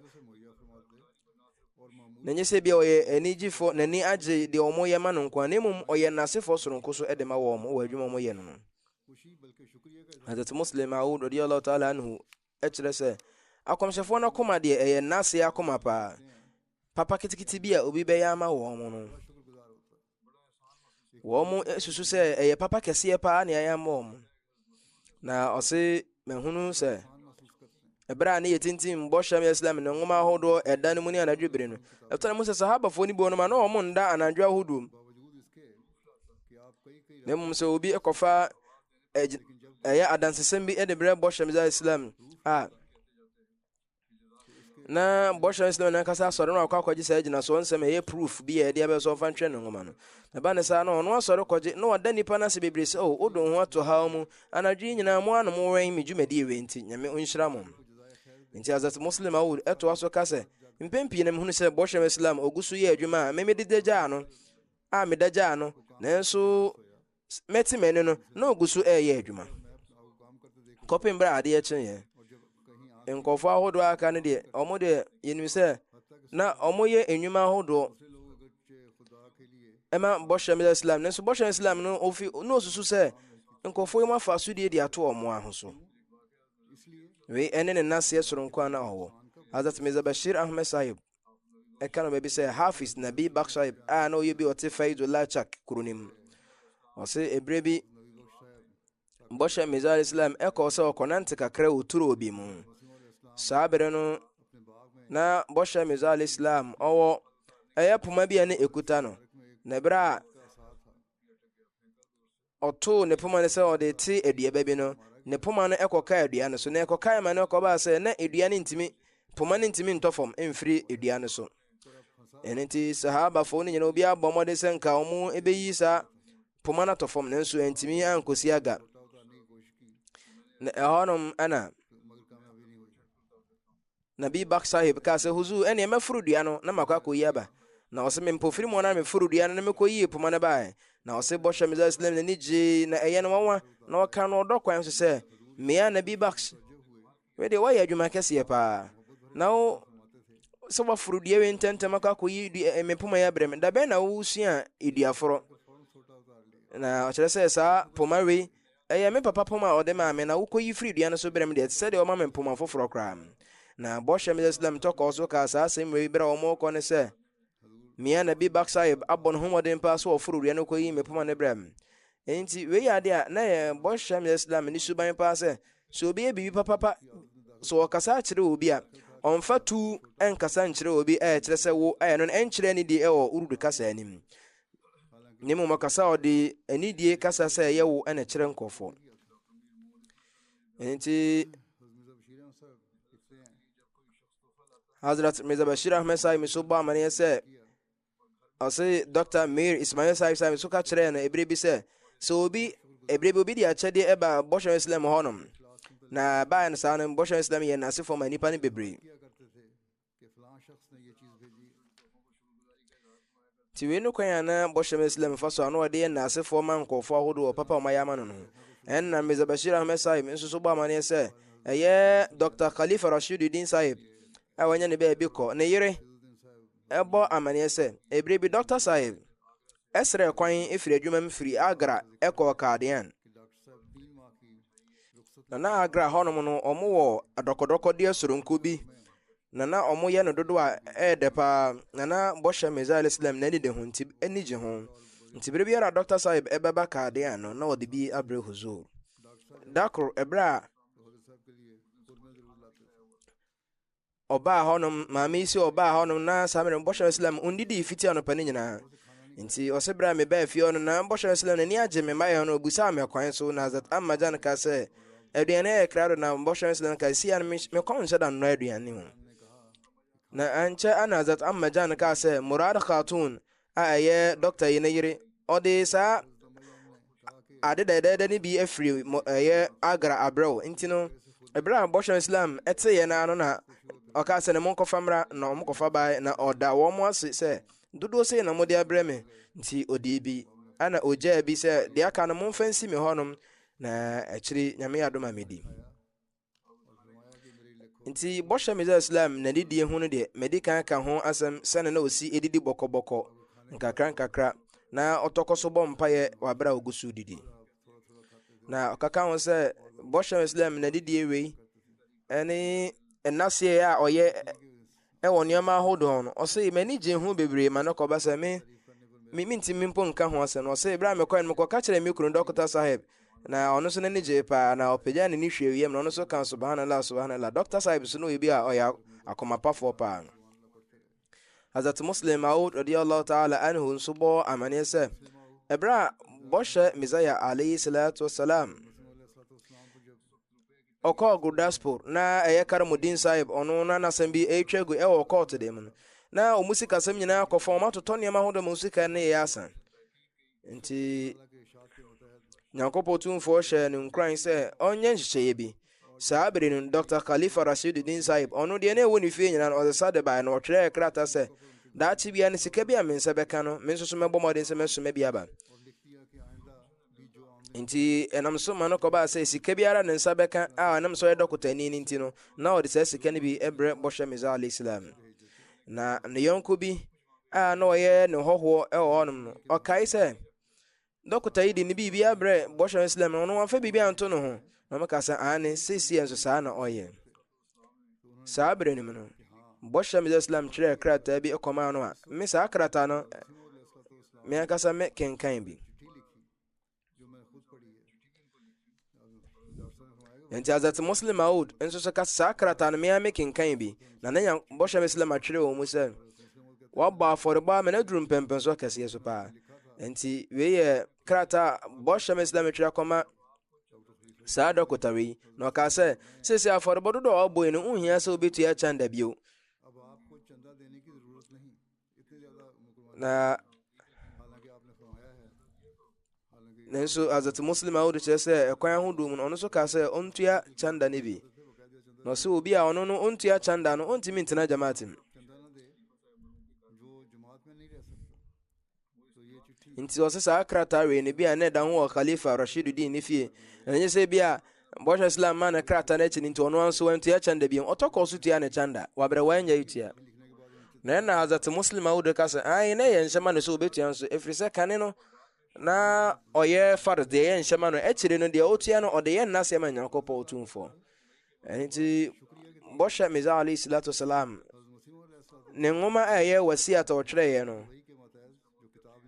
[SPEAKER 1] na nyɛ sɛ bia ɔyɛ anigyefo n'ani agye deɛ ɔmo yɛ ma no nko a na mmom ɔyɛ n'asefoɔ soronko so ɛde ma wɔn wɔ adwuma ɔmo yɛ no no Hazrat Muslim Maud radiyallahu ta'ala anhu kyerɛ sɛ akɔmhyɛfoɔ no akoma deɛ ɛyɛ n'ase akoma paa papa kitikiti bi a obi bɛyɛ ama wɔn no wɔn susu sɛ ɛyɛ papa kɛseɛ paa na ɛyɛ ama wɔn na ɔse mahunu sɛ ɛberɛ a ne yɛ tintim bɔhyɛm yɛ islam ne nwoma ahodoɔ ɛda no mu ne anadwo bere no ɛtɔ no mu sɛ sahabafoɔ no bi wɔnom a na wɔn nda anadwo ahodoɔ mu na mmom sɛ obi kɔfa ɛyɛ adansesɛm bi de brɛ bɔhyɛ mdza islam a na bɔhyɛ islam no ankasa asɔre no akɔ akɔgye saa gyinasoɔ nsɛm ɛyɛ proof bi a ɛde abɛsɛ ɔfa ntwɛn ne nwoma no ɛba ne saa no ɔno asɔre kɔgye na ɔda nnipa no ase bebree sɛ o oh, wodo ho ato haw mu anadwo yi nyinaa mo anom wɛn me dwumadie wei nti nyame ɔnhyira mo nti azat muslim awod ɛtoa so ka sɛ mpɛn pii na mehunu sɛ bɔhyɛ islam ɔgu so yɛ adwuma a memededagyaa no a meda gyaa no nanso mɛte m'ani no na ɔgu so ɛreyɛ adwuma kɔpem berɛ a adeɛ kyeeɛ nkurɔfoɔ ahodoɔ aka no deɛ ɔmo deɛ yɛnim sɛ na ɔmo yɛ nnwuma ahodoɔ ɛma bɔhyɛ meda islam nanso bɔhyɛ islam no ofi na osusu sɛ nkurɔfoɔ yi mu afa so die de ato ɔmo aho so wei ɛne ne naseɛ soronko a na ɔwɔ Hazrat Mirza Bashir Ahmed Sahib ɛka no baabi sɛ hafiz nabi baksaib a na ɔyɛ bi ɔte faidulachak kuro no mu ɔse ɛberɛ bi bɔhyɛ mesa al islam ɛkɔɔ sɛ ɔkɔnante kakra wɔ turo bi mu saa berɛ no na bɔhyɛ mesa al islam ɔwɔ ɛyɛ poma bi a ne ɛkuta no na ɛberɛ a Ɔtoo ne poma no sɛ ɔde rete aduaba bi no, ne poma no kɔkaa dua no so. Na ɛkɔkae ma no kɔbaa sɛ na dua no ntumi, poma no ntumi ntɔ fam mfiri dua no so. Ɛno nti, sahabafo no nyinaa obiara bɔ mmɔden sɛ nka wɔn bɛyi saa poma no atɔ fam, nanso ɛntumi ankɔsi aga. Na ɛhɔnom na Nabi Bak Sahib kaa sɛ, Huzuur, ɛneɛ mɛforo dua no na makɔ akɔyi aba. Na ɔse, mempofiri mu ara na meforoo dua no na mekɔyii poma no baeɛ. Na ɔse, Bɔhyɛ Mirza Islam n'ani gyee, na ɛyɛɛ no nwanwa, na ɔkaa no ɔdɔ kwan so sɛ, Mia Nabi Bakhsh, wei deɛ woayɛ adwuma kɛseɛ paa, na wo sɛ woaforo dua wei ntɛmntɛm akɔ akɔyi me poma yi abrɛ me, da bɛn na wosua duaforɔ? Na ɔkyerɛ sɛ saa poma wei Ɛyɛ me papa poma a ɔde maa me na wokoyi firii dua no so brɛɛ me deɛ, ɛte sɛ deɛ ɔma me mpoma foforɔ koraa. Na Bɔhyɛ Mirza Islam tɔ kɔɔ so kaa saa asɛm wei berɛ a wɔrekɔ no sɛ, Mia Nabi Bakht Sahib abɔ ne ho mmɔden paa sɛ ɔforo dua no kɔyii me poma no brɛɛ me. Enti wei yɛ adeɛ a na ɛyɛ Bɔhyɛ Mirza Islam ani suban paa sɛ, sɛ obi yɛ biribi papapa, sɛ ɔkasa akyerɛ obi a, ɔmfa tu nkasa nkyerɛ obi a ɛkyerɛ sɛ wo ayɛ no no nkyerɛ anidie wɔ Urdu kasa anim. na mmom ɔkasa ɔde anidie kasa sɛ ɛyɛ wo ɛna kyerɛ nkurɔfoɔ nti Hazrat Mirza Bashir Ahmed Saib nso bɔ amaneɛ sɛ ɔse Dr. Mir Ismail Saib Saib nso ka kyerɛɛ no ɛberɛ bi sɛ sɛ obi ɛberɛ bi obi de akyɛdeɛ ɛba bɔhyɛ Islam hɔnom na baeɛ no saa no bɔhyɛ Islam yɛ n'asefoɔ ma nnipa no bebree Nti wei no kwan a na bɔhyɛ ma Islam fa so a na ɔde yɛ nnasefoɔ ma nkurɔfoɔ ahodoɔ wɔ papa a wɔayɛ ama no no ho. Ɛnna Mirza Bashir Ahmed Sahib nso so bɔ amanneɛ sɛ ɛyɛ Dr. Khalifa Rashiduddin Sahib a wanya ne baabi kɔ. Ne yere ɛbɔ amanneɛ sɛ, ebire bi Dr. Sahib srɛɛ kwan firi adwuma mu firi Agra kɔɔ Qadian. Na na Agra hɔnom no, wɔwɔ adɔkɔdɔkɔdeɛ soronko bi, na na wɔyɛ no dodo a ɛyɛ dɛ paa, na na bɔhyɛ Mirza alayhi salam n'ani da ho nti ani gye ho. Nti bere biara Dr. Sahib ɛbɛba Qadian no, na ɔde bi abrɛ Huzur. Da koro, ɛberɛ a ɔbaa hɔnom maame yi sɛ ɔbaa hɔnom na saa mmerɛ bɔhyɛ islam ɔndidii fiti anɔpa no nyinaa nti ɔse berɛ a mebaa fie hɔ no na bɔhyɛ islam n'ani agye me mmayɛ hɔ no ɔbusaa me ɛkwan so na zat amma gyan ka sɛ aduane yɛ krado na bɔhyɛ islam ka si a no mekɔm nhyɛ da nnɔ aduane mu na ankyɛ ana zat amma gyan ka sɛ murad khatun a ɛyɛ dɔkta yi ne yere ɔde saa ade dɛdɛɛdɛ no bi afiri ɛyɛ agra abrɛw nti no ɛberɛ a bɔhyɛ islam ɛteeɛ no ano na ɔka sɛ ne mo nkɔfa mmra na wɔn kɔfa bae na ɔda wɔn ase sɛ dodoɔ sei na mode abrɛ me nti ɔdii bi ana ɔgyaa bi sɛ deɛ aka no momfa nsi me hɔnom na akyiri nyame yɛ adom a medi nti bɔhyɛ mesae islam na didie ho no deɛ madi kan ka ho asɛm sɛne na ɔsi ɛdidi bɔkɔbɔkɔ nkakra nkakra na ɔtɔkɔ so bɔ mpaeɛ wɔ aberɛ a ɔgu so didi na ɔkaka ho sɛ bɔhyɛ islam na didie wei ɛne ɛnaseɛ a ɔyɛ wɔ nneɛma ahodoɔ no ɔse m'ani gye ho bebree ma no kɔba sɛ me me mentimi mpo nka ho asɛm no ɔse berɛ a mekɔɛ no mekɔka kyerɛ me kunu dɔkota sahib na ɔno nso n'ani gyee paa na ɔpagya ne ne hwɛ wiem na ɔno nso ka subhanallah subhanallah dɔkota sahib nso no yɛ bi a ɔyɛ akomapafoɔ paa no Hazrat Muslim Maud radiyallahu ta'ala anhu nso bɔ amaneɛ sɛ ɛberɛ a bɔhyɛ Messiah alayhi salatu wasalam Ɔkɔɔ Gurdaspur, na ɛyɛ Karamuddin Sahib, ɔno na n'asɛm bi retwa agu wɔ kɔɔto dan mu no. Na wɔn sikasɛm nyinaa akɔ fam, wɔatotɔ nneɛma ahodoɔ ma wɔn sika nneyɛɛ asa. Nti, Nyankopɔn Tumfoɔ hyɛɛ no nkuran sɛ ɔnyɛ nhyehyɛeɛ bi. Saa bere no, Dr. Khalifa Rashiduddin Sahib, ɔno deɛ na ɛwɔ ne fie nyinaa no, ɔde sa de baeɛ na ɔtwerɛɛ krataa sɛ, Daakye biara no, sika bi a me nsa bɛka no, me nso so mɛbɔ mmɔden sɛ mɛsoma bi aba. nti ɛnam so ma no kɔbaa sɛ sika biara ne nsa bɛka a ɛnam sɛ ɔyɛ dɔkotani no nti no na ɔde saa sika no bi brɛ bɔhyɛ mesa alayhi salam na ne yɔnko bi a na ɔyɛ ne hɔhoɔ wɔ hɔnom no ɔkae sɛ dɔkota yi de ne biribi abrɛ bɔhyɛ islam no ɔno wɔmfa biribi anto ne ho na ɔmɛka sɛ aane seesie nso saa na ɔyɛ saa bere no mu no bɔhyɛ mede islam twerɛɛ krataa bi kɔmaa no a me saa krataa no me ankasa me kenkan bi nti azat muslim maud nso so ka saa krataa no mea me kenkan bi na ne bɔhyɛ me islam atwerɛ wɔ mu sɛ wɔabɔ afɔrebɔ a mena duru mpɛmpɛnso kɛseɛ so paa nti wei yɛ krataa bɔhyɛ me islam twerɛ kɔma Saa dɔkota wei, na ɔkaa sɛ, sɛsi afɔrebɔ dodo a ɔbɔe no, wohia sɛ wobɛtua kyanda bio. Na nanso azat muslim a wode kyerɛ sɛ ɛkwan ahodoɔ mu no ɔno nso kaa sɛ ɔntua chanda no bi na ɔsɛ obi a ɔno no ɔntua chanda no ɔntumi ntena jamaat mu nti ɔsɛ saa krataa wei no bi a na ɛda ho wɔ khalifa rashidudin ne fie ɛnyɛ sɛ bi a bɔhyɛ islam ma ne krataa no akyi no nti ɔno anso antua kyɛnda biom ɔtɔ kɔɔ so tua ne kyɛnda wabrɛ wanyɛ tua na ɛna azate muslim awodo ka sɛ ae na ɛyɛ nhyɛma no sɛ ɔbɛtua nso ɛfiri sɛ kane no na ɔyɛ fard deɛ ɛyɛ nhyɛma no akyire no deɛ ɔtua no ɔde yɛ nnaseɛ ma nyankopɔn ɔtumfoɔ ɛno nti bɔhyɛ mesa alayhi salatu wasalam ne nwoma a ɛyɛ wasiat a ɔtwerɛeɛ no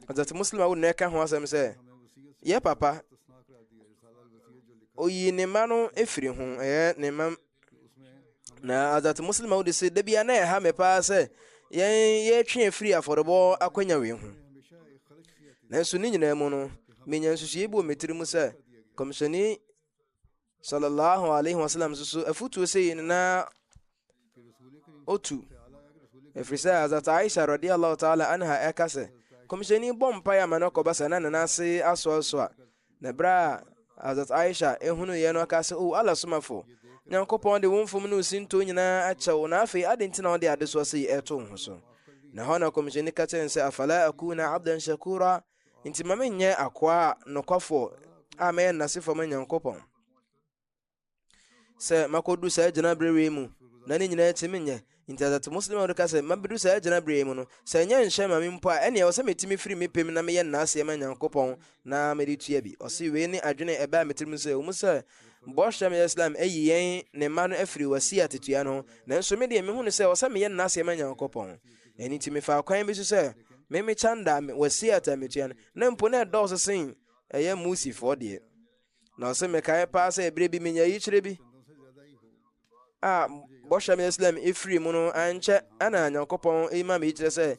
[SPEAKER 1] ɔdɛte muslim a wonɛ ka ho asɛm sɛ yɛ papa oyi ne mma no ɛfiri ho ɛyɛ ne mma na azat muslim a wode se da bia na ɛha me paa sɛ yɛn yɛtwe afiri afɔrebɔ akwanya wei ho nanso ne nyinaa mu no menya nsusuiɛ bi wɔ me tiri mu sɛ kɔmhyɛni Sallallahu alaihi wasallam nso so afutuo sɛ yei no na ɔtu. Ɛfiri sɛ Hazrat Aisha radiallahu ta'ala anha ɛka sɛ, kɔmhyɛni bɔ mpaeɛ ama no kɔba sɛ na ne nan ase asoasoa. Na berɛ a Hazrat Aisha ɛhunuiɛ no aka sɛ, o Allah somafo, Nyankopɔn de wo mfom ne wo sintoo nyinaa akyɛw, na afei ade nti na ɔde adesoa sɛ yi ɛto ho so. na hɔ na kɔmhyɛni ka kyerɛ sɛ afala akuna abdan shakura Nti ma menyɛ akoa nokwafoɔ a mɛyɛ nnasefoɔ ma Nyankopɔn. Sɛ makɔdu saa gyinaberɛ wei mu na ne nyinaa akyi menyɛ nti asate muslim a ka sɛ mabɛdu saa gyinaberɛ mu no sɛ ɛnyɛ nhyɛ ma me mpo a ɛne ɛwɔ sɛ metumi firi me pɛm na meyɛ nnaaseɛ ma Nyankopɔn na mede tua bi ɔse wei ne adwene ɛbɛa me tirim sɛ ɔmu sɛ bɔhyɛ me Islam ayi yɛn ne mma no afiri wasi atetua no nanso medeɛ mehunu sɛ ɔsɛ meyɛ nnaaseɛ ma Nyankopɔn Ɛno nti mefaa kwan bi so sɛ me me kyanda a wɔasie ata metua no na mpo na ɛdɔɔso sen ɛyɛ musifoɔ deɛ na ɔse mekae paa sɛ ɛberɛ bi menya yikyerɛ bi a bɔhyɛ me islam ɛfiri mu no ankyɛ ana nyankopɔn ɛma me yikyerɛ sɛ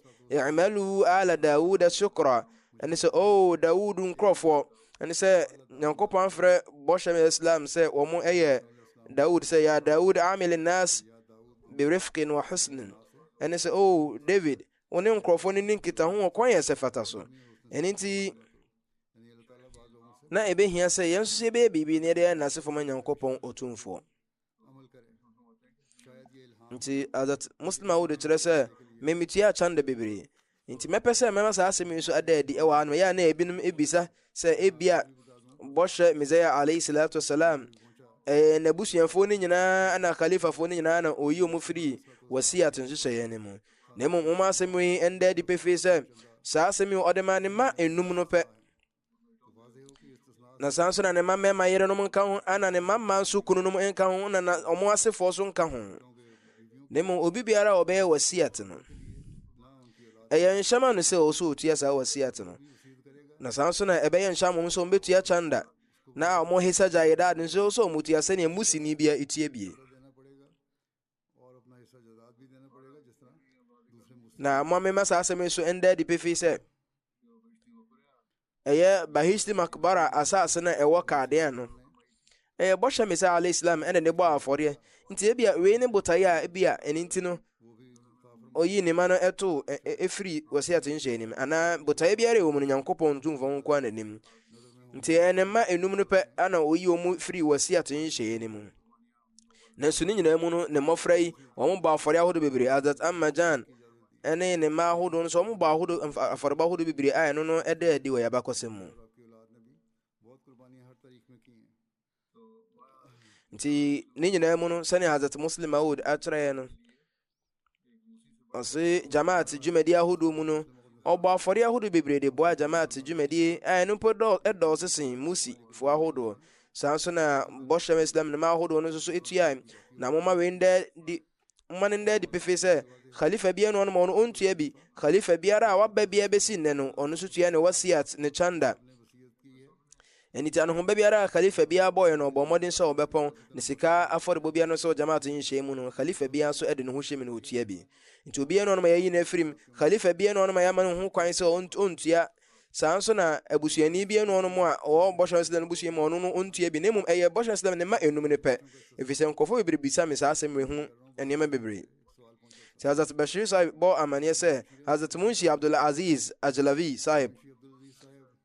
[SPEAKER 1] i'malu ala daud shukra ɛne sɛ o oh, daud nkurɔfoɔ ɛne sɛ nyankopɔn afrɛ bɔhyɛ me islam sɛ wɔn ɛyɛ daud sɛ ya daud amil nas berifqin wa husnin, ɛne sɛ, O David, wo ne nkurɔfoɔ no ni nkitaho wɔ kwan ɛsɛ fata so. Ɛno nti, na ɛbɛhia sɛ yɛn nso sɛ yɛbɛyɛ biribi na yɛde ayɛ nasefo ma nyankopɔn ɔtumfoɔ nti adat muslim awodo kyerɛ sɛ memetua akyanda bebree Enti mɛpɛ sɛ mɛma saa asɛm yi nso ada adi wɔ ha no. Ɛyɛ a na ebinom bisa sɛ ebia bɔhyɛ Mesia alayhi salatu wasalam ɛyɛ n'abusuafoɔ no nyinaa ana khalifafoɔ no nyinaa na ɔyi wɔn firi wasiyat nhyehyɛeɛ no mu. Na mmom wɔn asɛm yi ɛnda adi pefee sɛ saa asɛm yi ɔde maa ne mma enum no pɛ. na saa nso na ne mma mmarima yerenom nka ho ana ne mma mma nso kununom nka ho na na ɔmo asefoɔ so nka ho na mmom obi biara a ɔbɛyɛ wasiat no ɛyɛ nhyɛma no sɛ ɔwɔ so ɔtua saa wasiat no na saa nso na ɛbɛyɛ nhyɛ mmom sɛ ɔmbɛtua chanda na ɔmo hesa gyaedaad nso sɛ ɔmo tua sɛdeɛ musini bia ɛtua bie Na mo amema saa asɛm yi so ɛnda adi pefee sɛ ɛyɛ bahishti makbara asase no a ɛwɔ kadeɛ no ɛyɛ bɔhyɛ me sɛ alayhi salam ɛna ne bɔɔ afɔdeɛ nti ebia wei ne botaeɛ a ebia ɛne nti no ɔyii ne ma no ɛtoo ɛfiri wɔsiat nhyɛ anim anaa botaeɛ biara ɛwɔ mu no nyankopɔn tumfo ho nkoa n'anim nti ɛyɛ ne mma enum no pɛ ana ɔyi wɔn firi wɔsiat nhyɛ anim nanso ne nyinaa mu no ne mmɔfra yi wɔn bɔ afɔre ahodoɔ bebree adat amajan ɛne ne mma ahodoɔ no so wɔn bɔ ahodoɔ afɔrebɔ ahodoɔ bebree a ɛno no ɛda adi wɔ yabakɔsɛm mu nti ne nyinaa mu no sɛnea adat muslim awood akyerɛɛ no ɔse jamaat dwumadi ahodoɔ mu no ɔbɔ afɔdeɛ ahodoɔ bebree de boa jamaat dwumadie a ɛno mpo dɔɔso sen musifoɔ ahodoɔ saa nso na bɔhyɛ ma islam nnoma ahodoɔ no nso so ɛtua na moma wei ndɛ di moma no ndɛ di pefee sɛ khalifa bi ɛno ɔnom ɔno ɔntua bi khalifa biara a waba biara bɛsi nnɛ no ɔno nso tua ne wasiat ne chanda Ɛno nti anohoba biara a Khalifa biara bɔɔeɛ no, ɔbɔɔ mmɔden sɛ ɔbɛpɔn, na sika afɔrebɔ biara no sɛ Jamaat nhyehyɛe mu no, Khalifa biara nso de ne ho hyɛ mu na ɔtua bi. Nti obiara nni hɔ no ma yɛayi no afiri mu, Khalifa biara nni hɔ no ma yɛama no ho kwan sɛ ɔntua, saa nso na abusuani biara nni hɔ no a ɔwɔ Bɔhyɛ Ɔne Islam no busua mu a ɔno no ɔntua bi, na mmom ɛyɛ Bɔhyɛ Ɔne Islam ne mma nnum no pɛ, ɛfiri sɛ nkurɔfoɔ bebree bisa me saa asɛm wei ho nneɛma bebree. Nti Hazrat Bashir Sahib bɔɔ amanneɛ sɛ Hazrat Munshi Abdul Aziz Ajlavi Sahib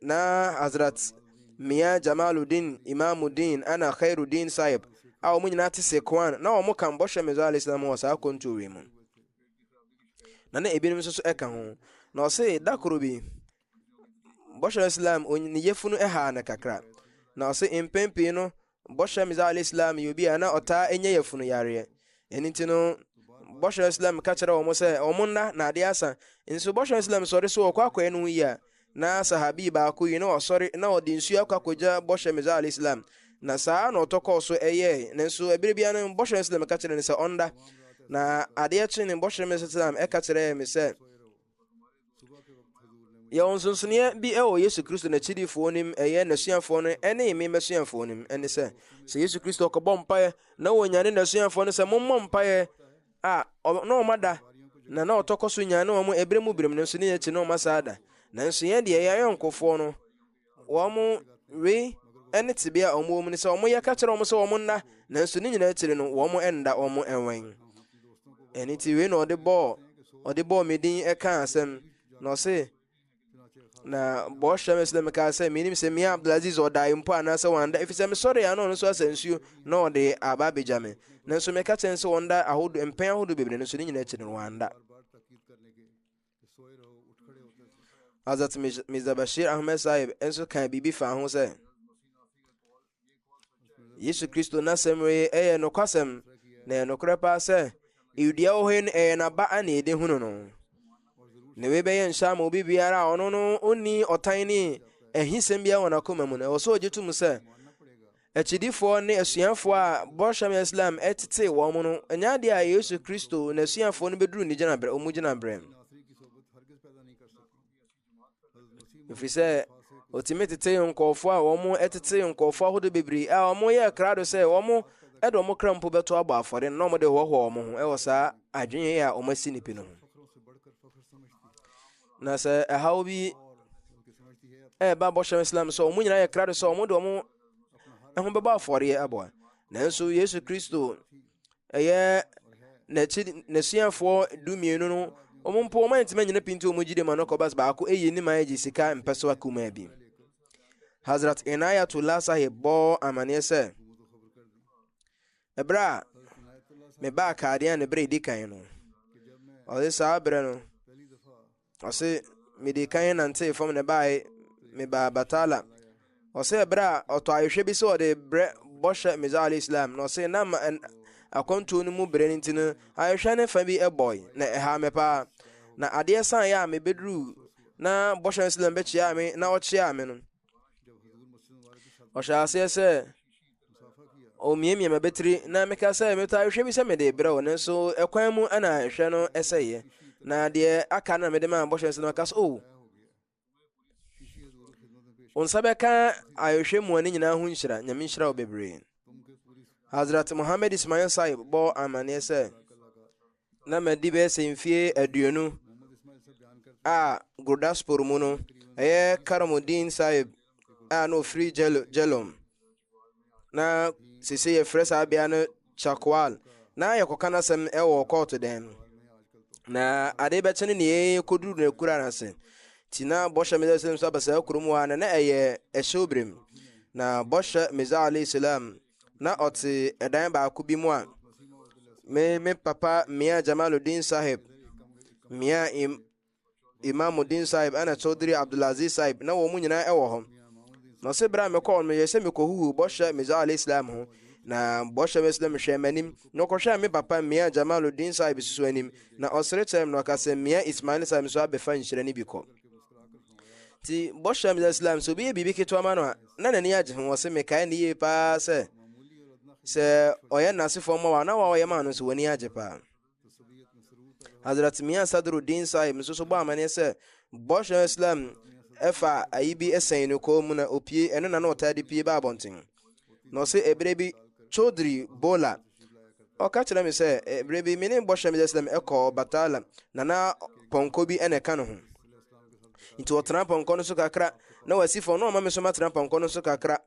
[SPEAKER 1] Na Hazrat Mia Jamaluddin Imamuddin ana Khairuddin Sahib a wɔn nyinaa te Sekwan na wɔn ka mbɔhwɛ Mirza alayhi salam wɔ saa akwantuo wei mu na na ebinom nso so ɛka ho na ɔse da koro bi bɔhwɛ Islam ne yefunu ɛhaa no kakra na ɔse mpɛn pii no Bɔhyɛ Mirza Alayhi Salaam yɛ obi a na ɔtaa nya yafunu yareɛ. Ɛno nti no, Bɔhyɛ Islam ka kyerɛ wɔn sɛ wɔn nna na adeɛ asa. Nso Bɔhyɛ Islam sɔre so ɔkɔ akɔyɛ ne ho yie a, na sahabi baako yi na ɔsɔre na ɔde nsuo akɔ akɔgya Bɔhyɛ Mirza Alayhi Salaam. Na saa na ɔtɔ kɔɔ so ɛyɛɛ. Nanso ɛberɛ biara no Bɔhyɛ Islam ka kyerɛ no sɛ ɔnda. Na adeɛ kye no Bɔhyɛ Mirza Islam ɛka kyerɛɛ me sɛ, Yɛwɔ nsonsonoeɛ bi wɔ Yesu Kristo n'akyidifoɔ nim ɛyɛ n'asuafoɔ no ne me m'asuafoɔ nim ɛne sɛ sɛ Yesu Kristo ɔkɔbɔ mpaeɛ na wɔnyane n'asuafoɔ no sɛ mommɔ mpaeɛ a na ɔma da na na ɔtɔkɔ so nyane wɔn ɛberɛ mu berɛm no nso ne akyi na ɔma saa da nanso yɛn deɛ yɛn ayɔnkofoɔ no wɔn wei ne tebea a wɔwɔ mu no sɛ wɔyɛ ka kyerɛ wɔn sɛ wɔn nna nanso ne nyinaa akyiri no wɔn nda wɔn nwɛn ɛne ti wei na ɔde bɔɔ ɔde bɔɔ me din ɛka asɛm na ɔse na bɔhyɛ me sɛ mekaa sɛ menim sɛ mea abdulaziz ɔdae mpo anaasɛ wanda ɛfiri sɛ mesɔre a na ɔno nso asɛ nsuo na ɔde aba abɛgya me nanso meka kyɛn sɛ ɔnda ahodo mpɛn ahodo bebree no so ne nyinaa akyiri no wanda Hazrat Mirza Bashir Ahmed Sahib nso kaa biribi faa ho sɛ Yesu Kristo n'asɛm wei ɛyɛ nokwasɛm na ɛyɛ nokorɛ paa sɛ ewudua wɔ hɔ yi no ɛyɛ n'aba a na yɛde hunu no na wei bɛyɛ nhyɛ ama obi biara a ɔno no ɔnni ɔtan ne ahisɛm biara wɔ n'akoma mu no ɛwɔ sɛ ɔgye tom sɛ Akyidifoɔ ne asuafoɔ a bɔhyɛ me Islam ɛtetee wɔn no ɛnyɛ adeɛ a Yesu Kristo na asuafoɔ no bɛduru ne gyinaberɛ ɔmu gyinaberɛ mu ɛfiri sɛ ɔtumi tetee nkɔɔfoɔ a wɔn ɛtetee nkɔɔfoɔ ahodoɔ bebree a wɔn yɛ krado sɛ wɔn ɛde wɔn kra mpo bɛto abɔ afɔre na wɔn de hoahoa wɔn ho ɛwɔ saa adwene a wɔn asi ne pi no ho na sɛ ɛhaw bi ɛreba bɔhyɛ islam sɛ wɔn nyinaa yɛ krado sɛ wɔn de wɔn ho bɛbɔ afɔreɛ aboa nanso yesu kristo ɛyɛ n'akyi n'asuafoɔ du mmienu no wɔn mpo wɔn antumi anyina pinti wɔn gyidi ma no kɔbas baako eyi ne ma agye sika mpɛsoa kumaa bi hazrat inayatullah sahib bɔ amaneɛ sɛ Ɛberɛ a mebaa Kadean ne berɛ ɛdi kan no, ɔse saa berɛ no, ɔse mede kan nantee fam na ɛbaeɛ mebaa Batala. Ɔse ɛberɛ a ɔtɔ ahwehwɛ bi sɛ ɔde brɛ bɔhyɛ Mirza alayhi salam na ɔse na akwantuo no mu berɛ no nti no ahwehwɛ ne fa bi ɛbɔe na ɛha me paa na adeɛ san yɛ a mebɛduruu na bɔhyɛ no salam bɛkyeaa me na ɔkyeaa me no ɔhyɛ aseɛ sɛ Omiamia m'abatiri na meka sɛ metaa hwɛ bi sɛ mede brɛ wo nanso ɛkwan mu na ɛhwɛ no ɛsɛeɛ na deɛ aka no na mede maa bɔhyɛ nsa no aka so o oh. wo nsa bɛka ayɛhwɛ mua no nyinaa ho nhyira nyame nhyira wo bebree hazrat mohammed ismail saib bɔ amanneɛ sɛ na madi bɛyɛ sɛ mfie aduonu a Gurdaspur mu no ɛyɛ Karamuddin Sahib a na ofiri Jhelum na sese yɛfrɛ saa bea no Chakwal na yɛkɔka n'asɛm wɔ kɔɔto dan mu na ade bɛkye no nea yɛkɔduru no akura no ase nti na bɔhyɛ meda sɛ nso aba saa kurom hɔ a na na ɛyɛ ɛhyɛw berem na bɔhyɛ meza alayhi salam na ɔte ɛdan baako bi mu a me me papa mmea jamaludin sahib mmea im imamudin sahib ɛna chaudhry abdulaziz sahib na wɔn nyinaa ɛwɔ hɔ na ɔsɛ berɛ a mekɔɔ no yɛ sɛ mekɔhuhu bɔhyɛ meza ala islam ho na bɔhyɛ me islam hwɛ m'anim na ɔkɔhwɛ me papa mmea jamaludin sahib susu anim na ɔsere kyerɛ m na ɔka sɛ mmea ismail sahib nso abɛfa nhyira no bi kɔ nti bɔhyɛ mdɛ islam sɛ obi yɛ biribi ketewa ma no a na n'ani agye ho ɔse mekae ne yie paa sɛ sɛ ɔyɛ nasefoɔ ma wa na wa ɔyɛ maa no nso w'ani agye paa hadrat mia sadruddin sahib nso so bɔ amanneɛ sɛ bɔhyɛ islam ɛfa ayi bi ɛsɛn no kɔɔ mu na opie ɛno na na ɔtaa de pie ba abɔnten na ɔse ɛberɛ bi Chaudhry Bola ɔka kyerɛ me sɛ ɛberɛ bi me ne bɔhyɛ me sɛsɛm ɛkɔ Batala na na pɔnkɔ bi ɛna ɛka ne ho nti ɔtena pɔnkɔ no so kakra na wasi fam na ɔma me so matena pɔnkɔ no so kakra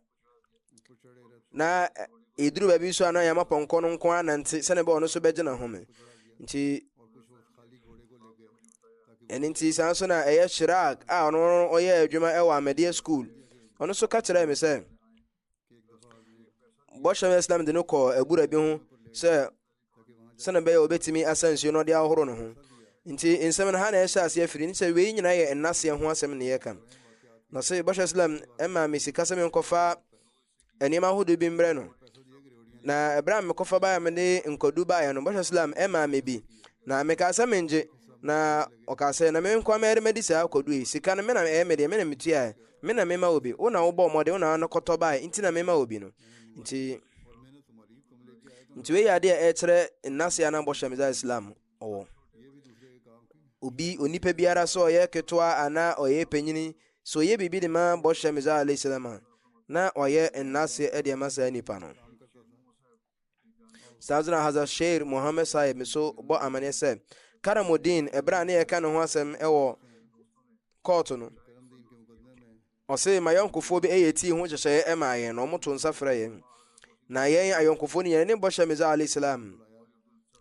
[SPEAKER 1] na ɛduru baabi so a na yɛama pɔnkɔ no nko anante sɛne bɛ ɔno so bɛgyina ho me nti ɛno nti saa nso na ɛyɛ shirak a ɔno ɔyɛ adwuma ɛwɔ amadeɛ school ɔno nso ka kyerɛɛ me sɛ bɔhyɛ islam de no kɔɔ abura bi ho sɛ sɛne bɛyɛ wɔbɛtumi asa nsuo no ɔde ahoro no ho nti nsɛm no ha na ɛhyɛ aseɛ firi ne sɛ wei nyinaa yɛ nnaseɛ ho asɛm ne yɛka na sɛ bɔhyɛ islam ɛma me sika sɛ menkɔfa nneɛma ahodoɔ bi mmerɛ no na ɛberɛ a mekɔfa baeɛ a mede nkɔdu baeɛ no bɔhyɛ islam ɛmaa me bi na mekaa sɛ mengye na ɔkaa sɛ na menkoa mɛde madi saa kɔdu yi sika no mena ɛyɛ medeɛ mena metuaɛ mena mema obi wo na wobɔ mmɔden wo na ano kɔtɔ baeɛ nti na mema obi no nti nti wei yɛ adeɛ ɛkyerɛ nnaseɛ anaa bɔhyɛ mesa islam ɔwɔ. Obi, onipa biara sɛ ɔyɛ ketewa anaa ɔyɛ panyini, sɛ ɔyɛ biribi de ma bɔhyɛ Mizar alayhi salam a, na ɔyɛ nnaseɛ de ama saa nipa no. Sadra Hazrat Sheikh Muhammad Sahib nso bɔ amanneɛ sɛ Karamuddin ɛberɛ a ne yɛka ne ho asɛm wɔ kɔɔto no Ɔsee m'ayɔnkofoɔ bi yɛ tii ho nhyehyɛeɛ maa yɛn na wɔto nsa frɛ yɛn. Na yɛn ayɔnkofoɔ no yɛn ne bɔhyɛ Mirza Ali Salam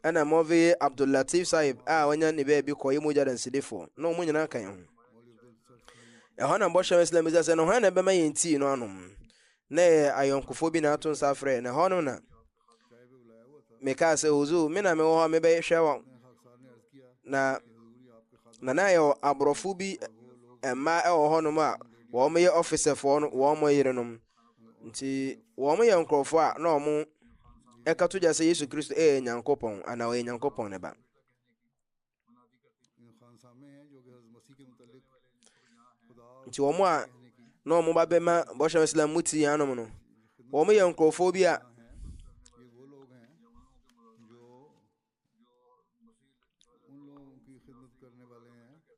[SPEAKER 1] ɛna Mɔveye Abdul Latif Sahib a wanya ne baabi kɔyɛ mogya dansidifoɔ na wɔn nyinaa ka yɛn ho. Ɛhɔ na bɔhyɛ Islam bisa sɛ na hwan na ɛbɛma yɛn tii no anom. Na yɛ ayɔnkofoɔ bi na ato nsa frɛ na ɛhɔ no na mekaa sɛ huzuu me na mewɔ hɔ a mebɛhwɛ wɔn na na na yɛwɔ aborɔfo bi mmaa ɛwɔ hɔnom a wɔn yɛ ɔfisɛfoɔ no wɔn yerenom nti wɔn yɛ nkurɔfoɔ a na wɔn ɛka to gya sɛ yesu kristo ɛyɛ nyankopɔn anaa ɔyɛ nyankopɔn ne ba nti wɔn a na wɔn ba bɛma bɔhyɛ islam mu ti anom no wɔn yɛ nkurɔfoɔ bi a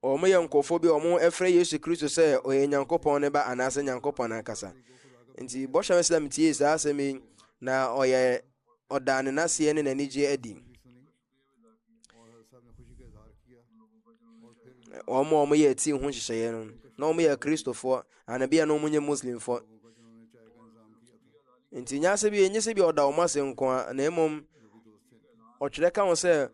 [SPEAKER 1] wɔn yɛ nkurɔfoɔ bi a wɔn ɛfrɛ yesu kristo sɛ ɔyɛ nyankopɔn ne ba anaasɛ nyankopɔn ankasa nti bɔhyɛ islam tie saa asɛm yi na ɔyɛ ɔdaa ne naseɛ ne n'anigyeɛ adi wɔn a wɔyɛ ti ho nhyehyɛeɛ no na wɔn yɛ kristofoɔ anabia na wɔn nyɛ muslimfoɔ nti nyɛ sɛ bi nyɛ sɛ bi ɔda wɔn ase nko a na mmom ɔtwerɛ ka ho sɛ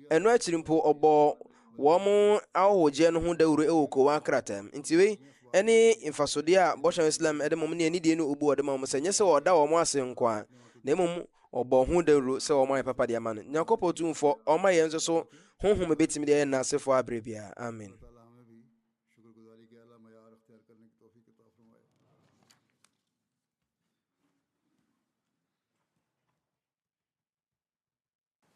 [SPEAKER 1] ɛno akyiri mpo ɔbɔɔ wɔn ahɔhoɔgyeɛ no ho dawuro wɔ kowa krataa mu nti wei ɛne mfasodeɛ a bɔhyɛ islam ɛde mom ne anidie ne obu ɔde ma wɔn sɛ nyɛ sɛ ɔda wɔn ase nko a na mmom Wɔbɔ ho dawuro sɛ wɔayɛ papa de ama no. Nyankopɔn Tumfɔ ɔma yɛn nso so honhom bɛtumi de ayɛ n'asefoɔ aberɛ biara. Amen.